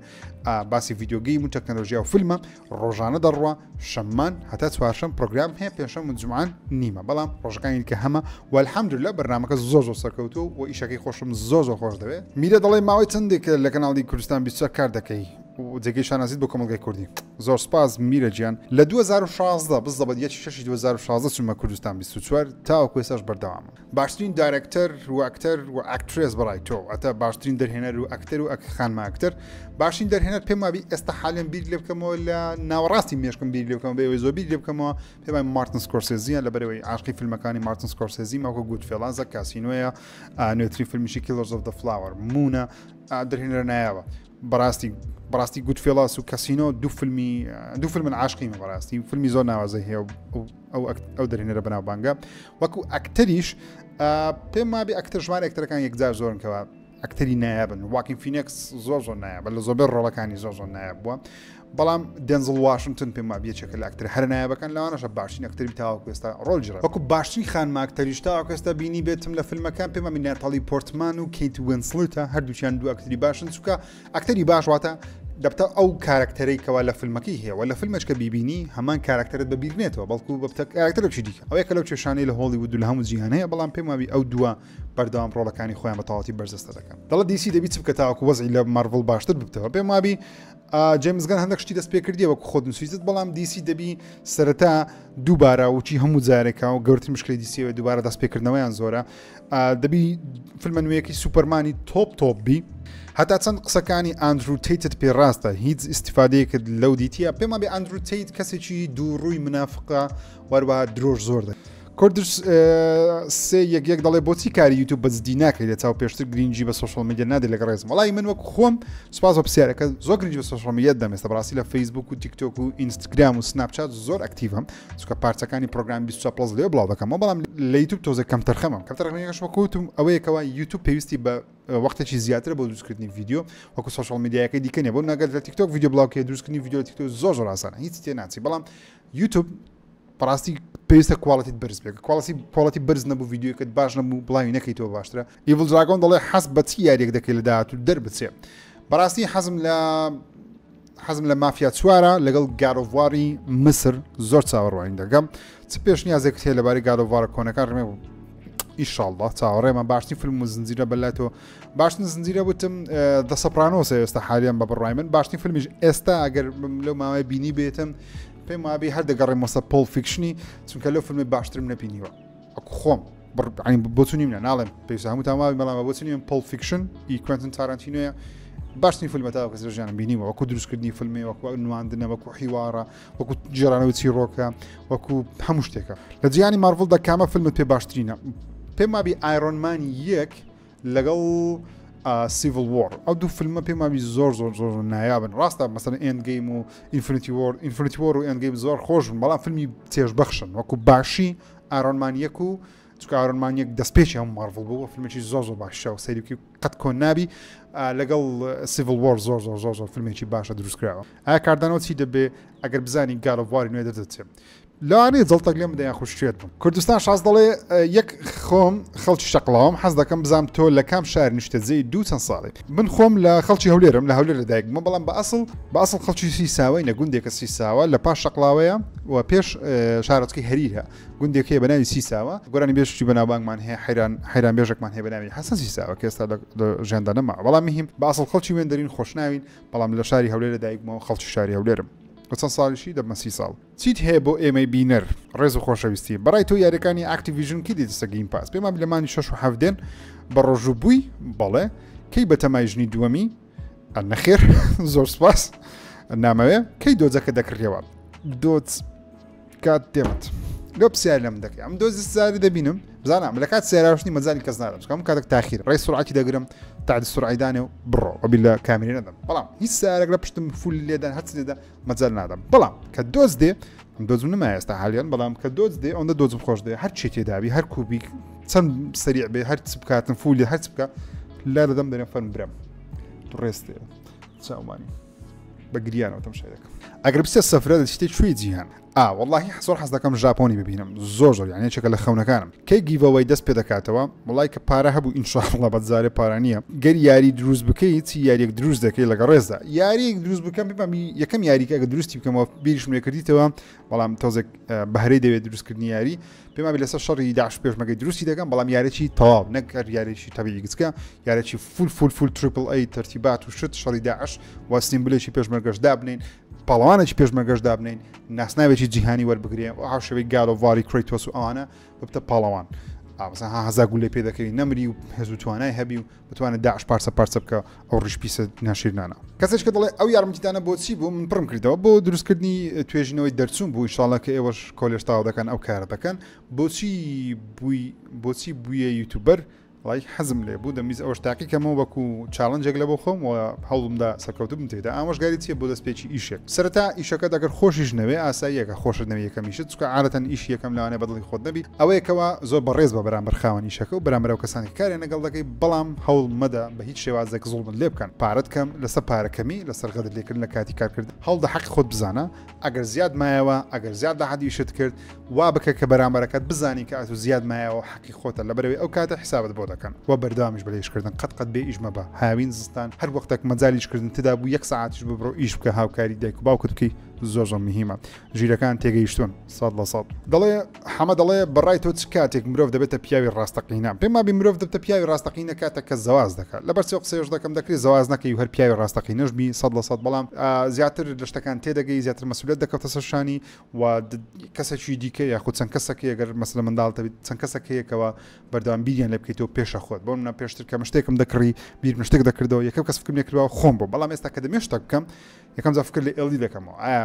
باسی یددیوگەی و تەکنەلۆژیا و فیلمە ڕۆژانە دەڕوە شەممان هەتا چوارشم پرۆگرام هەیە پێشەم و جوان نیمە بەڵام ڕۆژەکانی کە هەمە والحمد لە بەرنمەکە زۆر زۆر سەرکەوتو و ئیشەکەی خۆشم زۆر زۆر خۆش دەوێت میرە دەڵێ ماوەی چندێک لە کەناڵی کوردستان 20 کار دەکەی و جێگەی شانازیت بۆ کۆمەڵگای کوردی. زۆر سوپاس میرە گیان لە دوو هەزار و شازدە بزەبەت یەکی شەشی دوو هەزار و شازدە چومە کوردستان بیست و چوار تاوەکو ئێستاش بەردەوامم باشترین دایرەکتەر و ئەکتەر و ئەکترێس بەڕای تۆ ئەتە باشترین دەرهێنەر و ئەکتەر و ئەک خانمە ئەکتەر باشین دەرهێنەر پێم وابی ئێستا حالیان بیر لێ بکەمەوە لە ناوەڕاستی مێشکم بیر لێ بکەم بە ئەوەی زۆر بیر لێ بکەمەوە پێم وای مارتن سکۆرسێزیە لە بەرەوەی عاشقی فیلمەکانی مارتن سکۆرسێزی ماکۆ گوت فێڵازە کاسینۆیە نوێترین فیلمیشی کیلۆرز ئۆف دە فلاوەر مونە درهێنەرە نایابە بەڕاستی بەڕاستی گوت فێڵاس و کەسینۆ دوو فیلمی دوو فیلمن عاشقیمە بەڕاستی فیلمی زۆر ناوازەی هەیە ئەو ئەو دەرینەرە بەناوبانگە وەکو ئەکتەریش پێم مابی ئەکتەر ژمارە ئەکتەرەکان یەکجار زۆرنکەوە ئەکتەری نایابن واکین فینکس زۆر زۆر نایە بە لە زۆربەر ڕۆڵەکانی زۆر زۆر نایە بووە بەڵام دێنزڵ واشنتن پێم وابە یەکێکە لە ئەکتەرە هەرە نایابەکان لەوانەشە باشترین ئەکتەری تاوەکو ئێستا ڕۆڵ جرە وەکو باشترین خانمە ئەکتەریش تاوەکو ئێستا بینی بێتم لە فیلمەکان پێم وابە ناتاڵی پۆرتمان و کەیت وینسلتە هەردووچیان دوو ئەکتەری باشن چووکە ئەکتەری باش واتە دەبتە ئەو کارکتەرەی کەوا لە فیلمەکەی هەیە لە فیلمێککە بیبینی هەمان کارکتەرت بەبیرنێتەوە بەڵکو بەبتە کارکتەرێکی دیکە ئەو یەکە لەو کێشانەی لە هۆڵی ودو لە هەموو جیهان هەیە بەڵام پێم وابی ئەو دووە بەردەوام ڕۆڵەکانی خۆیان بە تەواتی بەرزەستە دەکەن دەڵە دیسی دەبی چ بکە تاوەکو وەزی لە مارڤڵ باشتر ببتەوە پێم وابی جەیمس گەن هەندەک شتی دەست پێکردیە وەک خۆت نووسیت بەڵام دیسی دەبی سەرەتا دووبارە وچی هەموو جارێکا و گەورتر مشکلی دیسیەوە دووبارە دەست پێکردنەوەیان زۆرە دەبی فیلمە نوێیەکی سوپەرمانی تۆپ تۆپ بی هەتا چەند قسەکانی ئاندرو تیتت پێ ڕاستە هیچ ئیسیفادەیەکرد لەو دیتیە پێما بێ ئەندرو تیت کەسێکی دووڕووی منافقە وەروە درۆژ زۆر دە کوردش سێ یەک یەک دەڵێ بۆچی کاری یوتوب بە جدی ناکەی لە چاو پێشتر گرنگجی بە سوشل میدیا نادە لەگە ڕێزم وڵی من وەک خۆم سوپاس بە پرسیارەکە زۆر گرنج بە سوشل میدیا دەمێستا بەڕاستی لە فەیسبوک و تیکتۆک و ئینستاگرام و سناپچات زۆر ئەکتیڤم چکە پارچەکانی پرۆگرام 20 پلس لێ بڵاو دەکەم بەڵام لە یوتوب تۆزە کەم تەرخەمم کەم تەرخەمەکەش وەکوتم ئەوەیەکەوە یوتوب پێویستی بە وەختێکی زیاتر بۆ دروستکردنی ویددیو وەکو سوشل میدیاکە دیکەنێ بۆ نەگەر لە تیکتۆک ویددیو بڵاوکە دروستکردنی ویددیو تیکتۆ زۆر زۆر ئاسانە هیچ تێ ناچی بەڵام یوتوب بەڕاستی پێویستە کوالڵەتیت بەرز بێت کوالڵەتی پۆڵەتی بەرز نەبوو یددیوکەت باش نەبوو بڵاوی نەکەیتەوە باشترە ئیڤل دراگۆن دەڵێ حەز بەچی یاریێک دەکەی لە داات و دەربچێ بەڕاستی حەزم لە حەزم لە مافیا چوارە لەگەڵ گارۆڤواری مسر زۆر چاوەڕوانین دەگەم چ پێشنیازێک هەیە لەبارەی گارۆڤارە کۆنەکان ڕێ ئیشاءله چاوەڕێمە باشترین فیلم و زنجیرە بەلای تۆ باشتن زنجیرە وتم دە سەپرانۆسە ئێستا حالیان بە بڕای من باشتین فیلمیش ئێستا ئەگەر لەو ماوەی بینی بێتم پێم وابی هەر دەگەڕێ مۆسە پۆل فیکشنی چونکە لەو فیلمی باشترم نەبینیوە ئەکو خۆم بڕین بۆچنی منە ناڵێم پێویست هەموو تاواوی مەڵامە بۆچنی من پۆل فیکشن ئی کوێنتن تارانتینۆە باشترین فیلمە تا کەس ژیانم بینیوە وەکو دروستکردنی فیلمی وەکو نواندنە وەکو حیوارە وەکو جێرانەوە چیرۆکە وەکو هەموو شتێکە لە جیانی مارڤڵ دەکامە فیلمت پێ باشترینە پێم وابی ئایرۆنمانی یەک لەگەڵ سیڤل وۆر ئەو دوو فیلمە پێم وابی زۆر زۆر زۆر نایابن ڕاستە مەسەن ئەندگەیم و ئینفرتی وۆر ئینفرتی وۆر و ئەندگەیم زۆر خۆش بن بەڵام فیلمی تێژبەخشن وەکو باشی ئارۆنمانیەک و چکە ئارۆنمانیەک دەستپێکی هەم مارڤڵ بوو فیلمێکی زۆر زۆر باشە و سەیرکی قەت کۆن نابی لەگەڵ سیڤل وۆر زۆر زۆر زۆر زۆر فیلمێکی باشە دروستکراوە ئایا کاردانەوە چی دەبێ ئەگەر بزانین گالۆڤواری نوێ دەدەچێت لەوانەیە جەڵتەک لێم بدە یاخود شێت بم کوردستان شاز دەڵێ یەک خۆم خەڵکی شەقڵاوم حەز دەکەم بزانم تۆ لە کام شار نیشتەجێی دوو چەند ساڵی من خۆم لە خەڵکی هەولێرم لە هەولێر لە دایک بووم بەڵام بە ئەسڵ بە ئەسڵ خەڵکی سیساوەی نە گوندێکە سیساوە لە پاش شەقڵاوەیە و پێش شارۆچکی هەریرە گوندێک هەیە بە ناوی سیساوە گۆرانی بێشتی بەناوبانگمان هەیە حیران حیران بێژێکمان هەیە بە ناوی حەسەن سیساوە کە ئێستا لە ژێندا نەما بەڵام مهم بە ئەسڵ خەڵکی وێندەرین خۆشناوین بەڵام لە شاری هەولێر لە دایک بووم خەڵکی شاری هەولێرم بە چەند ساڵیشی دەبمە سی ساڵ چیت هەیە بۆ ئێمەی بینەر ڕێز و خۆشەویستی بەڕای تۆ یاریەکانی ئاکتیڤژن کی دێتە گیم پاس پێمان بلە مانی شش و حەفتێن بە ڕۆژوو بووی بەڵێ کەی بە تەمای ژنی دووەمی نەخێر زۆر سپاس نامەوێ کەی دۆزەکە دەکڕیەوە دۆت کات دێمت لۆ پرسیار لەم دەکەی ئەم دۆزی سزاری دەبینم بزانام لە کات سێراوشنی مەزاری کەس نارم چکم کاتێک تاخیر ڕێ سرعاتی دەگرم تا سرعیدانێ و بڕۆ ئەبی لە کامیری نەدەم بەڵام هیچ سارێک لە پشتم فول لێدان هەچ لێدا مەجال نادەم بەڵام کە دۆست دێ دۆزم نما ئێستا حالیان بەڵام کە دۆست دێ ئەوەندە دۆزم خۆش دێ هەر چێ تێداوی هەر کوبی چەند سریع بێ هەر چ بکاتن فولی هەر بکە لا دەدەم دەرێن فەرم برم ڕێستێ چاومانی بە گریانەوە تەم شارەکە ئەگەر بسێ سەفرە شتێک شوێ جیهان ئا وەڵاهی زۆر حەز دەکەم ژاپۆنی ببینم زۆر زۆر یان یەکێکە لە خەونەکانم کەی گیڤەوەی دەست پێ دەکاتەوە وڵای کە پارە هەبوو ئینشاءاللە بە جارێ پارە نییە گەر یاری دروست بکەیت چی یاریەک دروست دەکەی لەگە ڕێزدا یاریەک دروست بکەم ببم یەکەم یاریکە کە دروستی بکەمەوە بیریشم لێ کردیتەوە بەڵام تۆزێک بەهرەی دەوێت دروستکردنی یاری پێما بێ لەسەر شەڕی داعش پێشمەگەی دروستی دەکەم بەڵام یارێکی تەواو نەک هەر یارێکی تەبیی گچکە یارێکی فول فول فول ترپل ئەی تەرتیبات و شت شەڕی داعش واسنیم بلێکی پێشمەرگەش دابنین پاڵەوانێکی پێشمەرگەش دابنین ناسناوێکی جیهانی وەربگرێ و هاوشەوەی گالۆڤاری کریتۆس و ئەوانە ببتە پاڵەوان ئاوزە ها هەزا گولێ پێ دەکەوی نەمری و هێز و توانای هەبی و بتوانێت داعش پارسە پارچە بکە ئەو ڕیشپیسە ناشیرنانە کەسێک کە دەڵێ ئەو یارمەتیدانە بۆچی بوو من پڕم کردەوە بۆ دروستکردنی توێژینەوەی دەرچوون بوو شڵە کە ئێوەش کۆلێشتاو دەکەن ئەو کارە دەکەن بۆچی بووی بۆچی بووە یوتوبەر وەڵایی حەزم لێ بوو دەمویست ئەوەش تاقی کەمەوە وەکو چاڵنجێک لە بۆ خۆم و هەوڵمدا سەرکەوتوو بم تێدا ئامۆژگاری چیە بۆ دەست پێکی ئیشێک سەرەتا ئیشەکەت ئەگەر خۆشیش نەوێ ئاساییە کە خۆشت نەوێ یەکەمیشت چونکە عادەتەن ئیشی یەکەم لەوانەیە بە دڵی خۆت نەبی ئەوەیە کەوا زۆر بەڕێز بە بەرامبەر خاوەن ئیشەکە و بەرامبەر ئەو کەسانەی کە کاریان لەگەڵ دەکەی بەڵام هەوڵ مەدە بە هیچ شێوازێک زوڵمت لێ بکەن پارەت کەم لەسەر پارە کەمی لەسەر غەدر لێکردن لە کاتی کارکردن هەوڵدە حەقی خۆت بزانە ئەگەر زیاد مایەوە ئەگەر زیاد لە حەدی شت کرد وا بکە کە بەرامبەرەکەت بزانی کە ئەتو زیاد مایەوە حەقی خۆتە لە بەرەوەی ئەو کاتە حسابت بۆ دەکەن و بەردەوامیش بەلێشکردن قەت قەت بێ ئیشمە بە هاوین زستان هەر وەختێک مەجالیشکردن تدا بوو یەک ساعتیش ببڕۆ ئیش بکە هاوکاری دایک و باوکت بکەی زۆر زۆر مهمە ژیرەکان تێگەیشتون سەد لە سەد دەڵێ حەمە دەڵێ بەڕای تۆ چ کاتێک مرۆڤ دەبێتە پیاوی ڕاستەقینە پێم وابی مرۆڤ دەبتە پیاوی ڕاستەقینە کاتە کە زەواز دەکات لەبەر سێ قسەیش دەکەم دەکری زەواز نەکەی و هەر پیاوی ڕاستەقینەش بی سەد لە سەد بەڵام زیاتر لە شتەکان تێدەگەی زیاتر مەسولەت دەکەوتە سەر شانی و کەسێکی دیکە یاخود چەند کەسەکە گەر مەسلە منداڵتە بێت چەند کەسەکەیەکەوە بەردەوام بیریان لە بکەیتەوە پێشە خۆت بۆ منە پێشتر کە مشتێکم دەکڕی بیر مشتێک دەکردەوە یەکەم کەس فکرم لێکردەوە خۆم بۆ بەڵام ئێستا کە دەمێشتە بکەم یەکەم جا فکر لە ئێڵی دەکەمەوە ئایا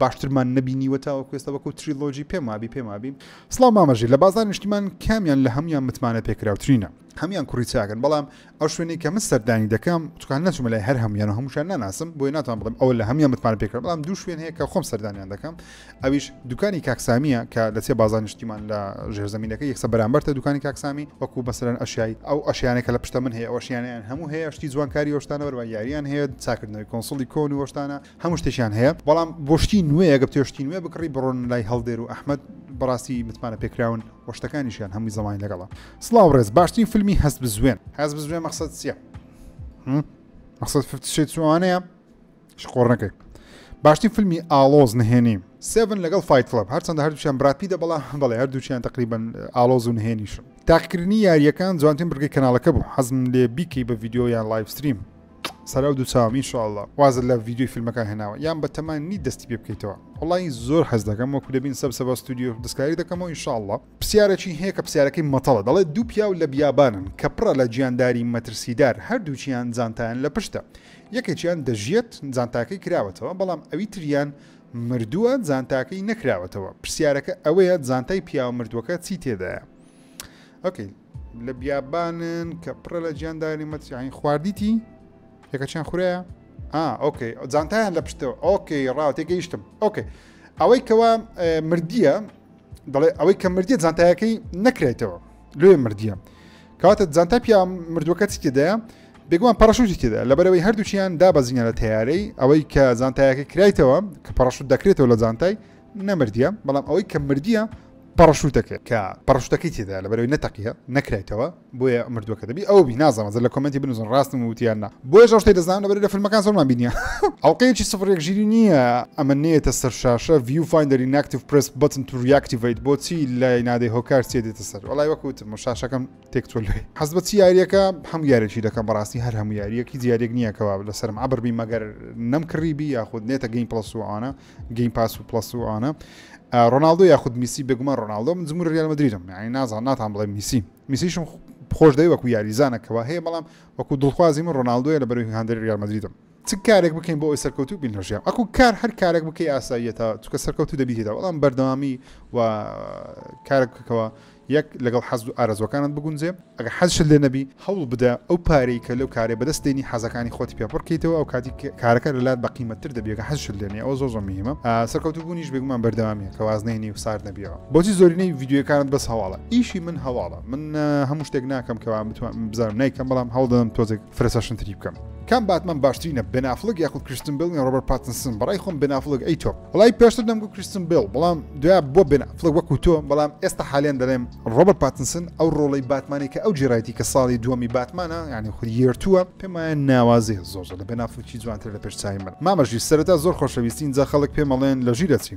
باشترمان نەبینیوە تاوەکو ئێستا وەکو تریلۆجی پێم وابی پێم وابی سڵاو مامە ژیر لە بازار نیشتیمان کامیان لە هەموان متمانە پێکراوترینە هەموان کوڕی چاکن بەڵام ئەو شوێنی کە من سەردانی دەکەم چکان نەچوومە لای هەر هەموان و هەمووشان ناناسم بۆیە ناتوان بڵم ئەوە لە هەموان متمان پێکرا بەڵام دوو شوێن هەیە کە خۆم سەردانیان دەکەم ئەویش دوکانی کاکسامیە کە لە سێ بازار نیشتیمان لە ژێرزەمینەکە یەکسە بەرامبەرتە دوکانی کاکسامی وەکو بەسەرەن ئەشیایی ئەو ئەشیانە کە لە پشتە من هەیە ئەوشیانیان هەموو هەیە شتی جوانکاری وەشتانە بەروان یاریان هەیە چاکردنەوەی کۆنسڵی کۆن وەشتانە هەموو شتێکیان هەیە بەڵام بۆ شتی نوێ گە بتێ شتی نوێ بکڕی بڕۆن لای هەڵدێر و ئەحمد بەڕاستی متمانە پێکراون وە شتەکانیشیان هەمووی زەمانی لەگەڵە سلااو ڕێز باشترین فیلمی هەست بزوێن هەز بزوێن مەخصد چیە مەخصد فشێت چوانەیە شقۆڕنەکەی باشترین فیلمی ئالۆز نهێنی سێڤن لەگەڵ فیت کلب هەرچەندە هەردووچیان براپیدە بەڵا بەڵێ هەردووچیان تقریبن ئالۆز و نهێنیشم تاقکردنی یاریەکان جوانتین بگەی کەناڵەکە بوو حەزم لێ بیکەی بە یددیویان لایفستریم سەراو دوو چاوم ان شاءاللە. وازت لە ڤیدیۆی فیلمەکان هێناوە یان بە تەما نیت دەستی پێ بکەیتەوە؟ وەڵایی زۆر حەز دەکەم وەکو دەبین سەب سەبا ستۆدیۆ دەستکاری دەکەمەوە ان شاءاللە. پرسیارەکی هەیە کە پرسیارەکەی مەتەڵە دەڵێت دوو پیاو لە بیابانن کە پڕە لە گیانداری مەترسیدار هەردووکیان جانتایان لە پشتە یەکێکیان دەژیەت جانتاکەی کراوەتەوە بەڵام ئەوی تریان مردووە جانتاکەی نەکراوەتەوە پرسیارەکە ئەوەیە جانتای پیاوە مردووەکە چی تێدایە ئۆکەی. لە بیابانن کە پڕە لە جیانداری مەتیعین خواردیتی یەکەچیان خورەیە ئۆکەی جانتایان لە پشتەوە ئۆکەی ڕاو تێگەیشتم ئۆکەی ئەوەی کەوا مردیە دەڵێ ئەوەی کە مردیە جانتایەکەی نەکرێتەوە لێ مردیە کاتە جانتا پیا مردووەکە چی تێدایە بێگومان پەڕشوتی تێدا لەبەرەوەی هەردووچیان دابەزینە لە تیارەی ئەوەی کە جانتایەکە کرایتەوە کە پەڕشوت دەکرێتەوە لە جانتای نەمردیە بەڵام ئەوەی کە مردیە پەڕەشوتەکە کە پەڕەشوتەکەی تێدایە لەبەرەوەی نەتەقیە نەکرایتەوە بۆیە مردوەکە دەبی ئەو بی نازانم زە لە کۆمێنتی بنوزن ڕاستم وتیان نا بۆیە ژەشتەی دەزانم لەبەر لە فیلمەکان زۆرمان بینیە ئەڵلقەیەکی سفر یەک ژیری نییە ئەمە نێتە سەر شاشە ڤیو فایندەری ناکتیف پرس بەتن تو ریاکتیڤیت بۆچی لای نادەی هۆکار چێ دێتە سەر وڵای وەکوتم و شاشەکەم تێک تۆ لێ حەز بە چی یاریەکە هەموو یارێکی دەکەم بەڕاستی هەر هەموو یاریەکی دیارێک نییە کەوا لەسەرم عبر بی مەگەر نەم کڕیبی یاخود نێتە گەین پڵەس وانە گەیم پاس و پلس و ئەوانە ڕۆناالدۆ یاخود میسی بێگومان ڕۆناالدۆ من زمور ریال مدریدم یعنی نازان ناتان بڵێ میسی میسیشم خۆش دەی وەکو یاریزانەکەەوە هەیە بەڵام وەکو دڵخوازی من ڕۆناالدۆە لە بەروی هاندەر ریال مدریدم چ کارێک بکەین بۆ ئەوی سەرکەوتو بین لەژیان ئەکو کار هەر کارێک بکەی ئاساییە تا چکە سەرکەوتو دەبیێتەوە بەڵام بەردەوامی و کارێک بکەوە یەک، لەگەڵ حەز و ئارەزووەکانت بگونجێ، ئەگەر حەزشت لێ نەبی، هەوڵ بدە ئەو پارەی کە لەو کارەی بەدەست دێنی حەزەکانی خۆتی پێ پڕ کەیتەوە، ئەو کاتی کارەکە لە لات بە قیمەتتر دەبی ئەگەر حەزشت لێ نیە، ئەوە زۆر زۆر موهیمە. سەرکەوتوو بوونیش بێگومان بەردەوامیە کە واز نەهێنی و سارد نەبیەوە. بۆچی زۆرینەی ڤیدیۆیەکانت بەس هەواڵە؟ ئیشی من هەواڵە، من هەموو شتێک ناکەم کە وا بتوانم بزانم نایکەم بەڵام هەوڵ دەدەم تۆزێک فرەچەشنتری بکەم کام باتمان باشترینە بێن ئەفڵک یاخود کریستن بێڵ یان ڕۆبەرت پاتنسن بەڕای خۆم بێن ئەفڵک ئەی تۆ وڵای پێشتر دەمگو کریستن بێڵ بەڵام دوای بۆ بێن ئەفڵک وەکو تۆ بەڵام ئێستا حالیان دەڵێم ڕۆبەرت پاتنسن ئەو ڕۆڵەی باتمانی کە ئەو جێرایتی کە ساڵی دووەمی باتمانە یعنی خود یێرتووە پێم وایە ناوازەیە زۆر زۆر لە بێن ئەفڵکی جوانتر لە پێش چاوی من مامە ژیر سەرەتا زۆر خۆشەویستی ئینجا خەڵک پێم ئەڵێن لە ژیر ئەچی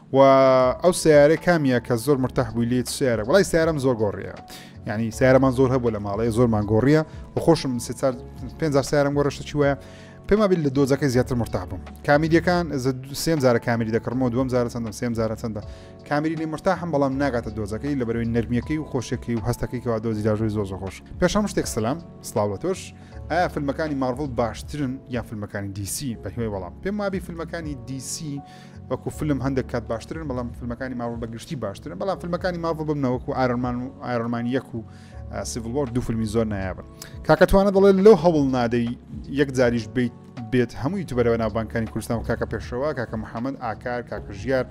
و ئەو سیارە کامیە کە زۆر مرتاح بووی لێت سیارە وڵی سیارم زۆر گۆڕیە ینی سیارەمان زۆر هەبوو لە ماڵەیە زۆرمان گۆڕیە و خۆشم پێ سیارم گۆڕشتە چی وایە پێما بیل لە دۆزەکەی زیاتر مرتاح بووم کامیریەکان سێم زارە کامیری دەکڕمەوە دوم زارە چەندم سێم زارە چەندە کامیری لە مرتاحم بەڵام ناگاتە دۆزەکەی لە بەرەوەی نرمیەکەی و خۆشەکەی و هەستەکەی کەوا دۆزی داژوی زۆ زۆ خۆش پێشم شتێک سلام سلااو تۆش ئایا فیلمەکانی ماڤڵ باشترن یا فیلمەکانی دیسی بە هیوای وەڵام پێم وابی فیلمەکانی دیسی وەکو فلم هەندێک کات باشترن بەڵام فیلمەکانی ماوە بە گشتی باشترن بەڵام فیلمەکانی ماوە بمنە وەکو ئارمان و ئارمان یەک و سیڤڵۆر دوو فیلمی زۆر نایابن کاکەتوانە دەڵێ لەو هەوڵ نادەی یەک جاریش بیت بێت هەمووی تو بەرەوە ناوبانکانی کوردستان و کاکە پێشەوە کاکە محەممەد ئاکار کاکە ژیار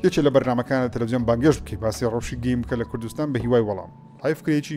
یەکێ لە بەرنمەکان لە تەلەزیۆن بانگێش بکەی باسی ڕەوشی گەیم بکە لە کوردستان بە هیوای وەڵام هایفکرێکی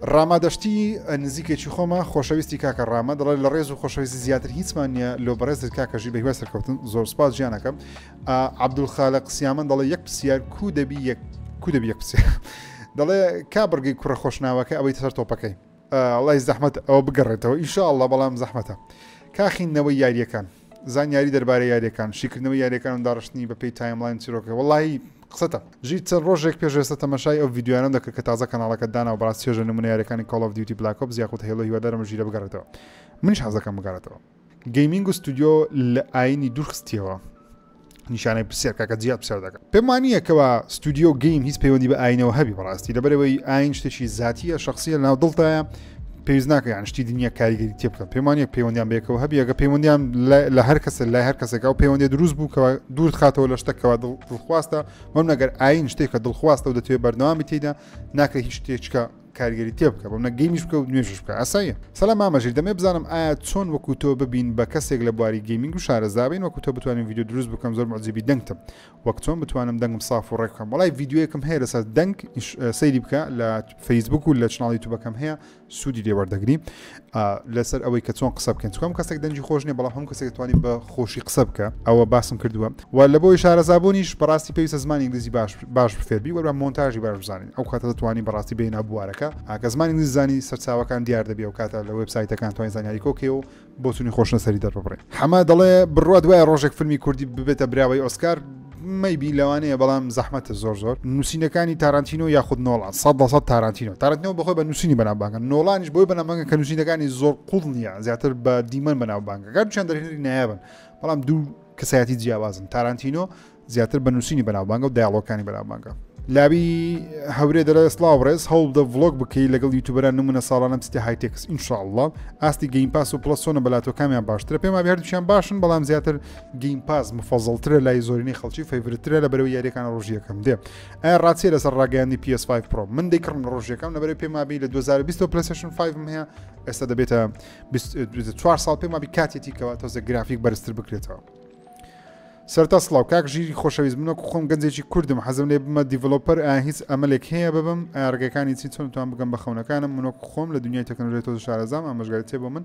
ڕاما دەشتی نزیکێکی خۆمە. خۆشەویستی کاکە ڕامە دەڵێت لە ڕێز و خۆشەویستی زیاتر هیچمان نییە لۆ بەڕێزت کاکە ژیر بەهیوای سەرکەوتن زۆر سپاس جیانەکەم عەبدولخالق سیامەن دەڵێ یەک پرسیار کو دەبی یەک کو دەبی یەک پرسیار دەڵێ کا بڕگەی کوڕە خۆشناوەکە ئەوەی سەر تۆپەکەی ئەڵی زەحمەت ئەوە بگەڕێتەوە ئیشاءله بەڵام زەحمەتە کاخینەوەی یاریەکان زانیاری دەربارەی یاریەکان شیکردنەوەی یاریەکان و داڕشتنی بەپی تایملاین چیرۆکە وەڵی قسەتە ژیر چەند ڕۆژێک پێش ئێستا تەمەشای ئەو ڤیددیوانم دەکرد کە تازە کەناڵەکە دانا و بەڕاست چێژە نمونە یاریەکانی کۆڵ ئۆف دیوتی بلاک ئۆپس یاخود هێڵۆ هیوادارم ژیرە بگەڕێتەوە منیش حەزەکەم بگەڕێتەوە گەیمینگ و ستودیۆ لە ئاینی دوورخستیەوە نیشانەی پرسیار کاکە جیاد پرسیار دەکە پێم وانییە کەوا ستودیو گەیم هیچ پەیوەندی بە ئاینەوە هەبی بەڕاستی لەبەرەوەی ئاین شتێکی زیاتیە شخصیە ناو دڵتایە پێویست ناکەیان شتی دنیا کاریگەری تێ بکەن پێمانە پەیوەندیان بێکەوە هەبیەگە پەیوەندیان لە هەر کەسە لای هەر کەسێکا و پەیوەندی دروست بوو کەەوە دوورت خاتەوە لە شتەکەەوە دڵخواستە مەم نەگەر ئاین شتێکە دڵخواستە و دەتوێت بەردەوامی تیدا ناکرێت هیچ شتێکچکە کارگێری تێ بکە بۆ منە گەیمیش بکە و نوێژش بکە ئاساییە سەلام مامە ژیر دەمێ بزانم ئایا چۆن وەکو تۆ ببین بە کەسێک لە بواری گەیمینگ و شارەزا بین وەکو تۆ بتوانین ڤیدیو دروست بکەم زۆر معجیبی دەنگتم وەک چۆن بتوانم دەنگم ساف و ڕێکم وڵای ڤیددیوەکەم هەیە لەسەر دەنگ سەیری بکە لە فەیسبوک و لە چناڵی توبەکەم هەیە سوودی لێوەردەگری ئا لەسەر ئەوەی کە چۆن قسە بکەین چکۆ هەموو کەسێک دەنگی خۆش نیە بەڵام هەموو کەسێک دەتوانی بە خۆشی قسە بکە ئەوە باسم کردووە و لە بۆی شارەزابوونیش بەڕاستی پێویستە زمانی ئینگلیزی باش باش بفێربی وەرە مۆنتاژی باش بزانین ئەو کاتە دەتوانی بەڕاستی بێنە بوارەکە ئاکە زمانی ئینگلیزی زانی سەرچاوەکان دیار دەبێ و کاتە لە وێبسایتەکان توانین زانیاری کۆکێ و بۆچوونی خۆشنەسەری دەرببڕین حەمە دەڵێ بڕوا دوای ڕۆژێک فیلمی کوردی ببێتە براوەی ئۆسکار مەی بی لەوانەیە بەڵام زەحمەتە زۆر زۆر نووسینەکانی تارانتینۆ یاخود نۆڵان سە دەسە تارانتینۆ تارانتینۆ بەخۆی بە نووسینی بەناوبانگە نۆڵانیش بۆی بەنامەکە کە نووسینەکانی زۆر قوڵ نییە زیاتر بە دیمەن بەناوبانگە گەر چەند دەرێنری نایابن بەڵام دوو کەسایەتی جیاوازن تارانتینۆ زیاتر بە نووسینی بەناوبانگە و دایڵۆکانی بەناوبانگە لابی هەورێ دەلە سلااو ڕێز هەوڵ دە ڤلۆک بکەی لەگەڵ یوتوبەران نمونە ساڵانم چتە هایتێکس ئینشاءله ئاستی گەین پاس و پلسۆنە بەلاتۆ کامیان باشترە پێما هەردووشیان باشن بەڵام زیاتر گەیم پاس مفەزڵترە لای زۆرینەی خەڵکی فەیورترە لە بەرەوەی یاریەکان ڕۆژیەکەم دێ ئایا ڕاستیە لەسەر ڕاگەیاندی PS5 پرۆ من دەیکڕم لە ڕۆژیەکەم لە بەرەی پێمابی لە 2020 پلسشن 5 هەیە ئێستا دەبێتە 24 ساڵ پێمابی کاتێتی کەەوە تۆزە گرافیک بەرزتر بکرێتەوە سەرتا سلااو کاک ژیری خۆشەویست منە خۆم گەنجێکی کوردم حەزم لێ بمە دیڤلوپەر ئا هیچ ئەمەلێک هەیە ببم ئارگەکانی چی چۆن توان بگەم بە خەونەکانم منۆک خۆم لە دنیای تەکنۆلێتۆ شارەزام ئامژگاری تێ بۆ من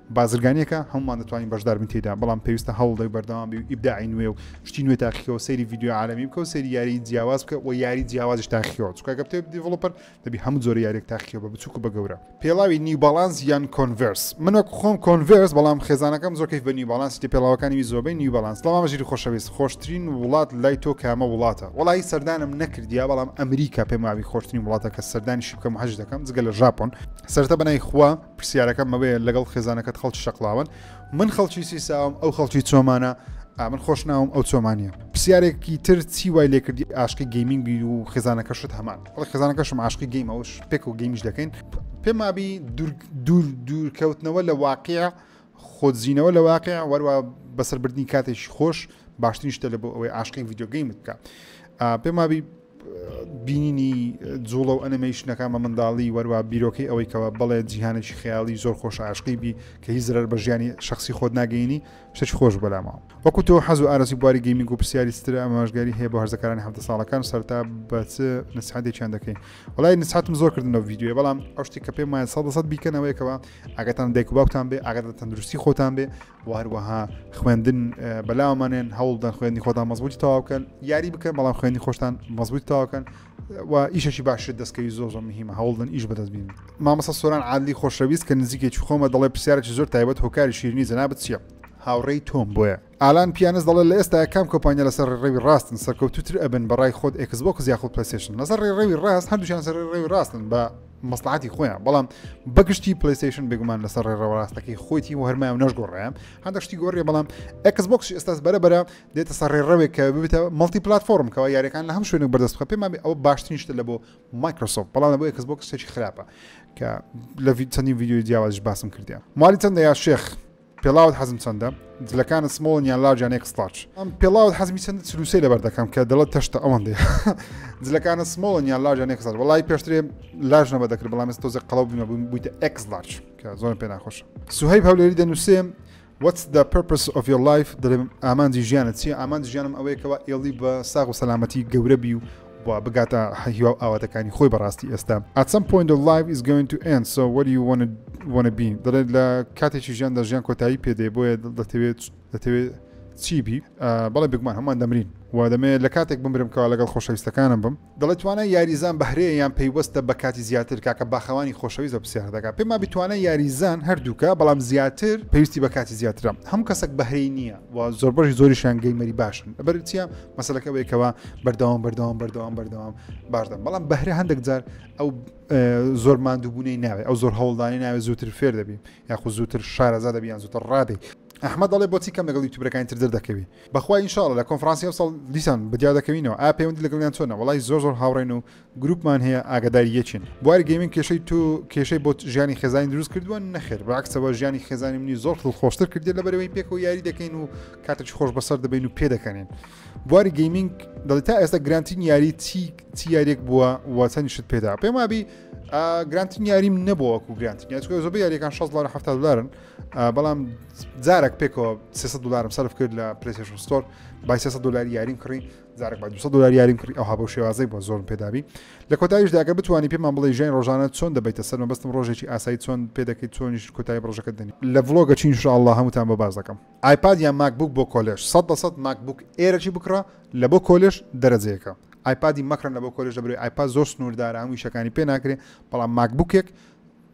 بازرگانیەکە هەموومان دەتوانین بەشدار بین تێیدا بەڵام پێویستە هەوڵدەک بەردەوام بی و ئیبداعی نوێ و شتی نوێ تاقیکەوە سەیری ڤیدیو عالمی بکە و سەیری یاری جیاواز بکە و یاری جیاوازش تاقیکەوە چکاگە بتێ دیڤڵوپەر دەبی هەموو جۆرە یاریێک تاقیەوە بە بچووک بە گەورە پێڵاوی نیو باڵانس یان کۆنڤرس من وەک خۆم کۆنڤرس بەڵام خێزانەکەم زۆر کەیف بە نیو باڵانس تێ پێڵاوەکانی وی زۆربەی نیو باڵانس بەڵام ژیری خۆشەویست خۆشترین وڵات لای تۆ کامە وڵاتە وڵی سەردانم نەکردیا بەڵام ئەمریکا پێماوی خۆشترین وڵاتە کە سەردانیشی بکەم حەج دەکەم جگە لە ژاپۆن سەرتە بەنای خوا پرسیارەکەم ئەوەیە لەگەڵ خێزانەکەت خەڵکی شەقڵاوەن من خەڵکی سیساوم ئەو خەڵکی چۆمانە ئامن خۆش ناوم ئەو چۆمانە پرسیارێکی تر چی وای لێکردی ئاشقی گەیمینگ بی و خێزانەکەشت هەمان ئەڵ خێزانەکەشم عاشقی گەیمەوەش پێک و گەیمیش دەکەین پێمابی دوور دوور دوورکەوتنەوە لە واقع خۆدزینەوە لە واقع وەروە بەسەربردنی کاتێکی خۆش باشترین شتە لە بۆ ئەوەی عاشقی ڤیددیوگەیم بکە پێم وابی بینینی جوڵە و ئەنەمەیشنەکان بە منداڵی وەروە بیرۆکەی ئەوەی کەەوە بڵێ جیهانێکی خیاڵی زۆر خۆش عشقی بی کە هی زرەر بە ژیانی شخصی خۆت ناگەینی شتێک خۆش بەلامەوە وەکو تۆ حەز و ئارسی بواری گەیمی و پرسیاری ستر ئەماژگاری هەیە بۆ هەرزەکارانی هەفتە ساڵەکان سەرتا بە چ نسحاتێکیان دەکەین وڵی نسحاتم زۆر کردنەوە یددیوێ بەڵام ئەو شتێک کە پێم وایە سە دەسەد بیکەنەوەیکەوە ئاگاتان دایک و باوتان بێ ئاگات لە تەندروستی خۆتان بێ و هەروەها خوێندن بەلاوەمانێن هەوڵدان خوێندنی خۆتان مەزبوتی تەواوکەن یاری بکەن بەڵام خوێنی خۆشتان مەزبوتی تاواکەن و ئیشەشی باشتر دەستکەوی زۆر زۆر مهمە هەوڵدن ئیش بەدەست بین مامەسە سۆران عادلی خۆشەویست کە نزیکێکی خۆمە دەڵێ پرسیارێکی زۆر تایبەت هۆکاری شیرنی جەنابەت چیە هاوڕێی تۆم بۆیە ئالان پیانس دەڵێت لە ئێستایا کام کۆمپانیا لەسەر ڕێڕەوی ڕاستن سەرکەوتووتر ئەبن بە ڕای خۆت ئێکس بۆکس یاخود پلەیستەیشن لەسەر ڕێڕەوی ڕاست هەردووشیان سەر ڕێڕەوی ڕاستن بە مەسلحاتی خۆیان بەڵام بەگشتی پلیسیشن بێگومان لەسەر ڕێڕەوە ڕاستەکەی خۆیتی و هەرمای و نەشگۆڕیان هەندێک شتی گۆڕیە بەڵام ئەکس بۆکس ئێستاس بەرە بەرە دێتە سەر ڕێڕەوێک کە ببێتە مەڵتی پلتفۆرم کەەوە یاریەکان لە هەم شوێنێک بەردەست خە پێمامی ئەوە باشترین شتە لە بۆ مایکرۆسۆف بەڵام لە بۆ ئەکس بۆکس شتێکی خراپە کە لە چەندین ویددیوی جیاوازش باسم کردیان مالی چەندە یا شێخ پێڵاوت حەزم چەندە؟ جلەکانت سمۆڵن یان لارج یان ئێکس لارج؟ پێڵاوت حەزمی چەندە چل و سێ لەبەر دەکەم کە دەڵێت تەشتە ئەوەندەیە. جلەکانت سمۆڵن یان لارج یان ئێکس لارج؟ وەڵای پێشترێ لارج نەبە دەکرد بەڵام ئێستا تۆزێک قەڵەو بوومە بووم بوویتە ئێکس لارج کە زۆرم پێ ناخۆشە. سوهەیب هەولێری دەنووسێ What's the purpose of your life دەڵێم ئامانجی ژیانت چییە؟ ئامانجی ژیانم ئەوەیە کەوا ئێڵی بە ساغ و سەلامەتی گەورە بی و بۆ بگاتە هیوا و ئاواتەکانی خۆی بەڕاستی ئێستا at some point of life is going to end so what do you wanna, wanna be دەڵێت لە کاتێکی ژیاندا ژیان کۆتایی پێدەی بۆیە دەتەوێت دەتەوێت چی بی بەڵێ بگومان هەمان دەمرین و دەمێ لە کاتێک بمرم کەوا لەگەڵ خۆشەویستەکانم بم دەڵێت توانای یاریزان بەهرەیە یان پەیوەستە بە کاتی زیاتر کاکە باخەوانی خۆشەویست بە پرسیار دەکات پێما بتوانە یاریزان هەردووکە بەڵام زیاتر پێویستی بە کاتی زیاترە هەم کەسێک بەهرەی نییە و زۆربەری زۆریشان گەیمەری باشن بەرچە مەسلەکە ئەوەیە کەەوە بەردەوام بەردەوام بەردەوام بەردەوام باشدەم بەڵام بەهرە هەندێک جار ئەو زۆر مادووبوونەی ناوێت ئەو زۆر هەوڵدانی ناوێت زووتر فێر دەبی یاخود زووتر شارەزا دەبیان زووتر ڕادی ئەحمە دەڵێ بۆچی کەم لەگەڵی توبرەکانی تر دەکەوی بەخوای انشاءڵ لە کۆنفرانسی ئەو ساڵ دیسان بەدیا دەکەوینەوە ئا پەیوەندی لەگەڵیان چۆنە وڵی زۆر زۆر هاوڕێن و گروپمان هەیە ئاگاداری یەکین. بواری گەیمینگ کێشەی تۆ کێشەی بۆ ژیانی خێزانی دروست کردووە نەخێر بەعکسەوە ژیانی خێزانی منی زۆر دڵخۆشتر کردێت لە بەرەوەی پێکەوە یاری دەکەین و کاتێکی خۆش بەسەر دەبین و پێ دەکەنین بواری گەیمینگ دەڵی تا ئێستا گرانتین یاری چی چی یاریێک بووە وەچەنیشت پێدا پێم وابی گرانتین یاریم نەبووەکو گرانتین یاچکە زۆر یاریەکان 16 دلار 7 دلارن بەڵام جارێک پێکەوە 300 دلارم سرف کرد لە پرسیشن ستۆر بای 300 دلار یاریم کڕین جارێک بە 200 دلار یاریم کڕی ئەوها بەو شێوازەی بۆ زۆرم پێدابی لە کۆتاییشدا ئەگەر بتوانی پێمان بڵێ ژیانی ڕۆژانە چۆن دەبیتە سەر مەبەستم ڕۆژێکی ئاسایی چۆن پێ دەکەیت چۆنیش کۆتایی ڕۆژەکە دەنی لە ڤڵۆگە چین شاءالله هەمووتان بە باس دەکەم ئایپاد یان ماکبوک بۆ کۆلێژ 100 بە 100 ماکبوک ئێرەکی بکڕە لە بۆ کۆلێژ دەرەجەیەکە ئایپادی مەکڕن لە بۆ کۆلێژ دەبرێت ئایپاد زۆر سنووردارە هەموو شەکانی پێ ناکرێت بەڵام ماکبوکێک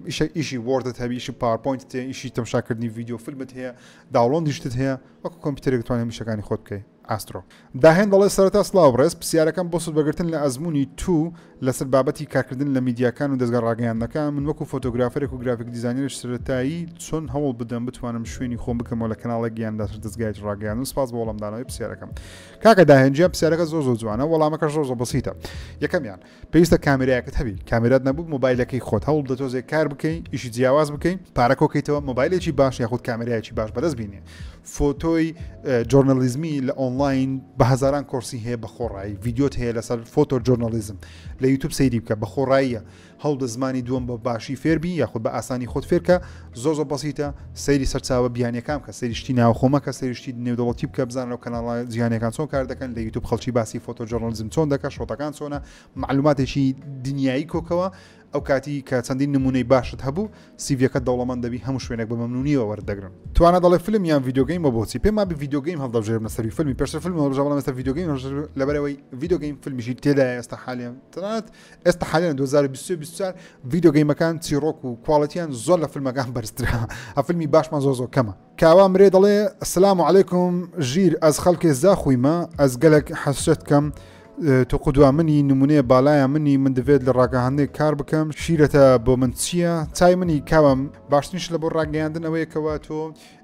ئیشە ئیشی وردت هەبی ئیشی پارپۆینت تێ ئیشی تەمشاکردنی ویددیو فیلمت هەیە داوڵۆندیشتت هەیە وەکو کۆمپیوتەرێکتوانێت میشەکانی خۆت بکەیت ئاسترۆ داهێن دەڵێت، سەرەتا سڵاو بڕێز، پرسیارەکەم بۆ سوودبەگرتن لە ئەزموونی تو لەسەر بابەتی کارکردن لە میدیاکان و دەزگا ڕاگەیاندنەکان، من وەکو فۆتۆگرافەرێک و گرافیک دیزاینەرێک سەرەتایی چۆن هەوڵ بدەم بتوانم شوێنی خۆم بکەمەوە لە کەناڵێک یان لەسەر دەزگایەکی ڕاگەیاندن؟ سپاس بۆ وەڵامدانەوەی پرسیارەکەم. کاکە داهێن گیان پرسیارەکەت زۆر زۆر جوانە وەڵامەکەش زۆر زۆر بەسیتە. یەکەمیان. پێویستە کامێرایەکت هەبی کامێرات نەبوو مۆبایلەکەی خۆت هەوڵ بدە تۆزێک کار بکەین ئیشی جیاواز بکەین پارەکۆ کەیتەوە مۆبایلێکی باش یاخود کامێرایەکی باش بەدەست بینێ فۆتۆی جۆرنەلیزمی لە ئۆنلاین بە هزاران کۆرسی هەیە بە خۆڕایی ڤیددیوت هەیە لەسەر فۆتۆ جۆرنەلیزم لە یوتوب سەیری بکە بە خۆڕاییە هەوڵ دە زمانی دووەم بە باشی فێربی یاخود بە ئاسانی خۆت فێرکە زۆر زۆر بەسیتە سەیری سەرچاوە بیانیەکان کە سەیری شتی ناوخۆ مەکە سەیری شتی نێودەوڵەتی بکە بزانن لەو کەناڵە جیهانیەکان چۆن کار دەکەن لە یوتوب خەڵکی باسی فۆتۆ جۆرنالیزم چۆن دەکە شۆتەکان چۆنە معلوماتێکی دنیایی کۆکەوە ئەو کاتی کە چەندین نمونەی باشت هەبوو سیڤەکە دەوڵەمەند دەبی هەموو شوێنێک بە مەمنونیەوە وەردەگرن توانە دەڵێ فیلم یان ڤیددیوگەیم بە بۆچی پێما بە ڤیددیوگەیم هەڵدەژێر لە سەری فیلمی پێشتر فیلم هەڵژەوە مەستا ڤیددیوگەیم لەبەرەوەی ڤیددیوگەیم فیلمیشی تێدا ئێستا حالیان تەنانەت ئێستا حالیان دوو هەزار و بیست و بیست و چوار ڤیدیۆ گەیمەکان چیڕۆک و کواڵەتیان زۆر لە فیلمەکان بەرزترە ئەفیلمی باشمان زۆر زۆر کەمە کاوا مرێ دەڵێ سلام و عیکم ژیر ئەز خەڵکێ زاخویمە ئەز گەلک حەسرەت کەم تو قودوا منی نمونەیە بالایە منی من دەبێت لە ڕاگەهاندێک کار بکەم شیرەتە بۆ من چییە چای منی کاوام باشترینش لە بۆ ڕاگەیاندنەوەیەکەوە تۆ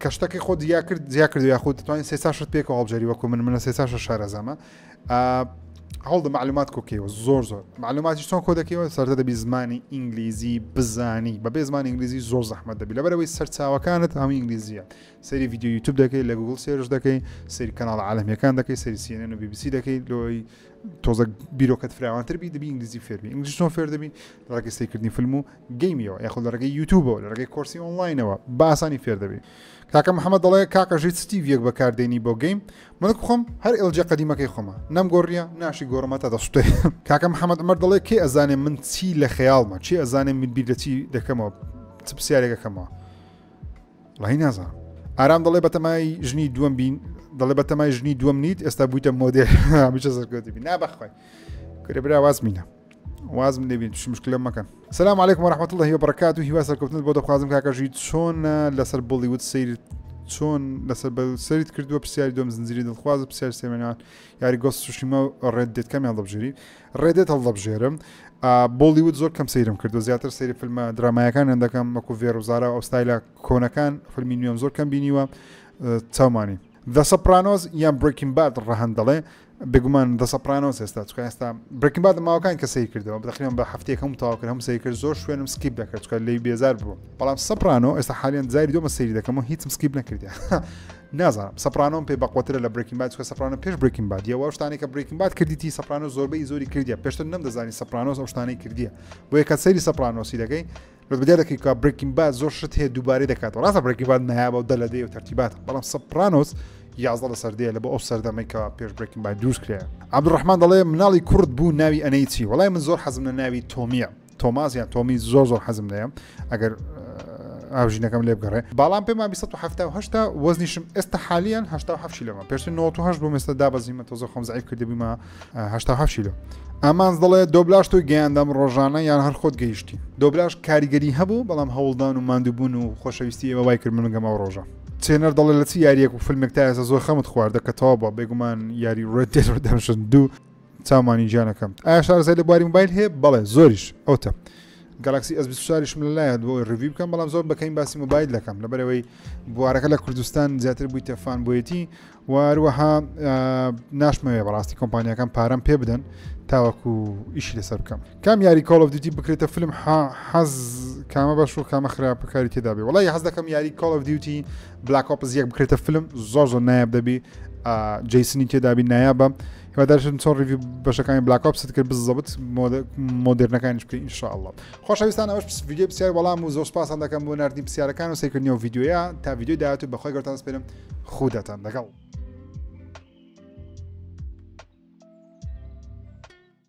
کە شتەکەی خۆ جیا کرد جیا کرد یاخود توانین سێ چاشت پێکەوە هەڵبژێری وەکو من منە سێ چاشە شارەزامە هەڵدە معلومات کۆکەوە زۆر زۆر معلوماتی چۆن کۆ دەکەوە سەردە دەبی زمانی ئینگلیزی بزانی بە بێ زمان ئینگلیزی زۆر زەحمە دەبی لەبەرەوەی سەرچاوەکانت هەموو ئینگلیزیە سەری یددیو یوتوب دەکەی لە گوگل سێرش دەکەی سری کەناڵ عالمیەکان دەکەی سری سیێنەن و بیبیسی دەکەی لۆی تۆزە بیرۆکەت فراوانتر بی دەبی ئینگلیزی فێربی ئینگلیزی چۆن فێر دەبی ڕێکستەی کردنی فیلم و گەیمیەوە یاخود لە ڕێگەی یوتوبەوە لە ڕێگەی کۆرسی ئۆنلاینەوە بە ئاسانی فێر دەبی کاکە محەممەد دەڵێ کاکە ژیت ستیڤەک بەکاردێنی بۆ گەیم منک بخۆم هەر ئێلجێ قەدیمەکەی خۆمە نەم گۆڕیە ناشی گۆڕمە تا دەستێ کاکە محەممەد ئەمەر دەڵێ کێ ئەزانێ من چی لە خەیاڵمە چی ئەزانێ من بیر دەچی دەکەمەوە چ پرسیارێکەکەمەوە ڵی نازان ئارام دەڵێ بەتەمای ژنی دووەم بین دەڵێ بەتەمای ژنی دووەم نیت ئێستا بوویتە مۆدێ هەمیشە سەرکەوتی بی نابخوای کورە برا واز مینە وازم لێبین توش مشکلە مەکەن سلام عیکم ڕحمت الله هی بڕکات و هیوا سەرکەوتنت بۆ دەخوازم کاکەژی چۆنە لەسەر بڵیوت سیر چۆن لەسەر بە سەریت کردووە پرسیاری دۆم زنجری دڵخواز و پرسیار سێمێنان یاری گۆست سوشیمە و ڕێت دێت کەمیان دەبژێری ڕێدێت هەڵدەبژێرم بۆلیوت زۆر کەم سەیرم کردو زیاتر سەیری فیلمە درامایەکانیان دەکەم مەکو ڤێر و زارا و ئەوستایلە کۆنەکان فەرمی نوێم زۆر کەم بینیوە چاومانی The Sopranos یان Breaking Bad ڕەهەند دەڵێ بێگومان The Sopranos ئێستا چکە ئێستا Breaking Bad ماوەکان کە سەیر کردەوە بەخیان بە هەفتێک هەم تاوا کرد هەم سەیر کرد زۆر شوێنم سکیپ دەکرد چکە لی بێزار بوو بەڵام سەپرانۆ ئێستا حالیان زاری دۆمە سەیری دەکەم و هیچم سکیپ نەکردە نازانم سەپرانۆم پێ بەقوترە لە برێکین باد چکە سەپرانە پێش برێکین باد یەوە شتانی کە برێکین باد کردیتی سەپرانۆ زۆربەی زۆری کردیە پێشتر نەمدەزانی سەپرانۆس ئەو شتانەی کردیە بۆ یەکە سەیری سەپرانۆسی دەکەی بەس بەدیار دەکەی کا برێکین باد زۆر شت هەیە دووبارەی دەکاتەوە ڕاستە برێکی باد نایابە و دەلەدەی و تەرتیبات بەڵام سەپرانۆس یازدە لە سەردەیە لە بۆ ئەو سەردەمێکەوە پێش برێکین باد دروست کرێ عبدڕحمان دەڵێ مناڵی کورد بوو ناوی ئەنەی چی وڵای من زۆر حەزم لە ناوی تۆمیە تۆماز یان تۆمی زۆر زۆر حەزم لەیە ئەگەر ئاژینەکەم لێ بگەڕێ باڵام پێما 1970 وەزنیشم ئێستا حالیان هشتا هەفشی لەمە پێشتر 1970 بۆ مێستا دابەزیمە تۆزە خۆم زعیب کردبوومە هەشتا هەفت شیلۆ ئامانز دەڵێت دۆبلاش تۆی گەیاندەم ڕۆژانە یان هەر خۆت گەیشتی دۆبلاش کاریگەری هەبوو بەڵام هەوڵدان و مادووبوون و خۆشەویستی ئێوە وای کرد منگەمە ڕۆژە چێنەر دەڵێت لە چی یاریەک و فیلمێک تا ئێستا زۆر خەمت خواردە کە تەوا بە بێگومان یاری ڕێدەشن دوو چاومانی جیانەکەم ئایا شارزای لە بواری موبایل هەیە بەڵێ زۆریش ئەوتە گەلاکسی ئەس شاریشم لە لایە بۆ ڕوی بکەم بەڵام زۆر بەکەین باسی موبایل دەکەم لەبەرەوەی بوارەکە لە کوردستان زیاتر بوویتە فان بۆیەتی و هەروەها ناشمەوێ بەڕاستی کۆمپانیەکان پارەم پێ بدەن تاوەکو ئیشی لەسەر بکەم کام یاری کۆڵ of دیوتی بکرێتە فیلم حەز کامە بەش و کامە خراپ بکاری تێدا بێ وڵی حەز دەکەم یاری کۆڵ of دیوتی بلاک ئۆپز یەک بکرێتە فیلم زۆر زۆر نایاب دەبی جیسنی تێدابی نایابە هیوادارشن چۆن ڕوی بەشەکانی بلاک ئۆپست کرد بزەبت مۆدررنەکانیش بکە انشاءله خۆشەویستان ئەوش ویددیو پرسیار وەڵام و زۆر پاسان دەکەم بۆ نردنی پرسیارەکان و سەیکردنی و یددیوە تا یددیو داات و بەخۆی گەتان سپێنم خوداتان لەگەڵ.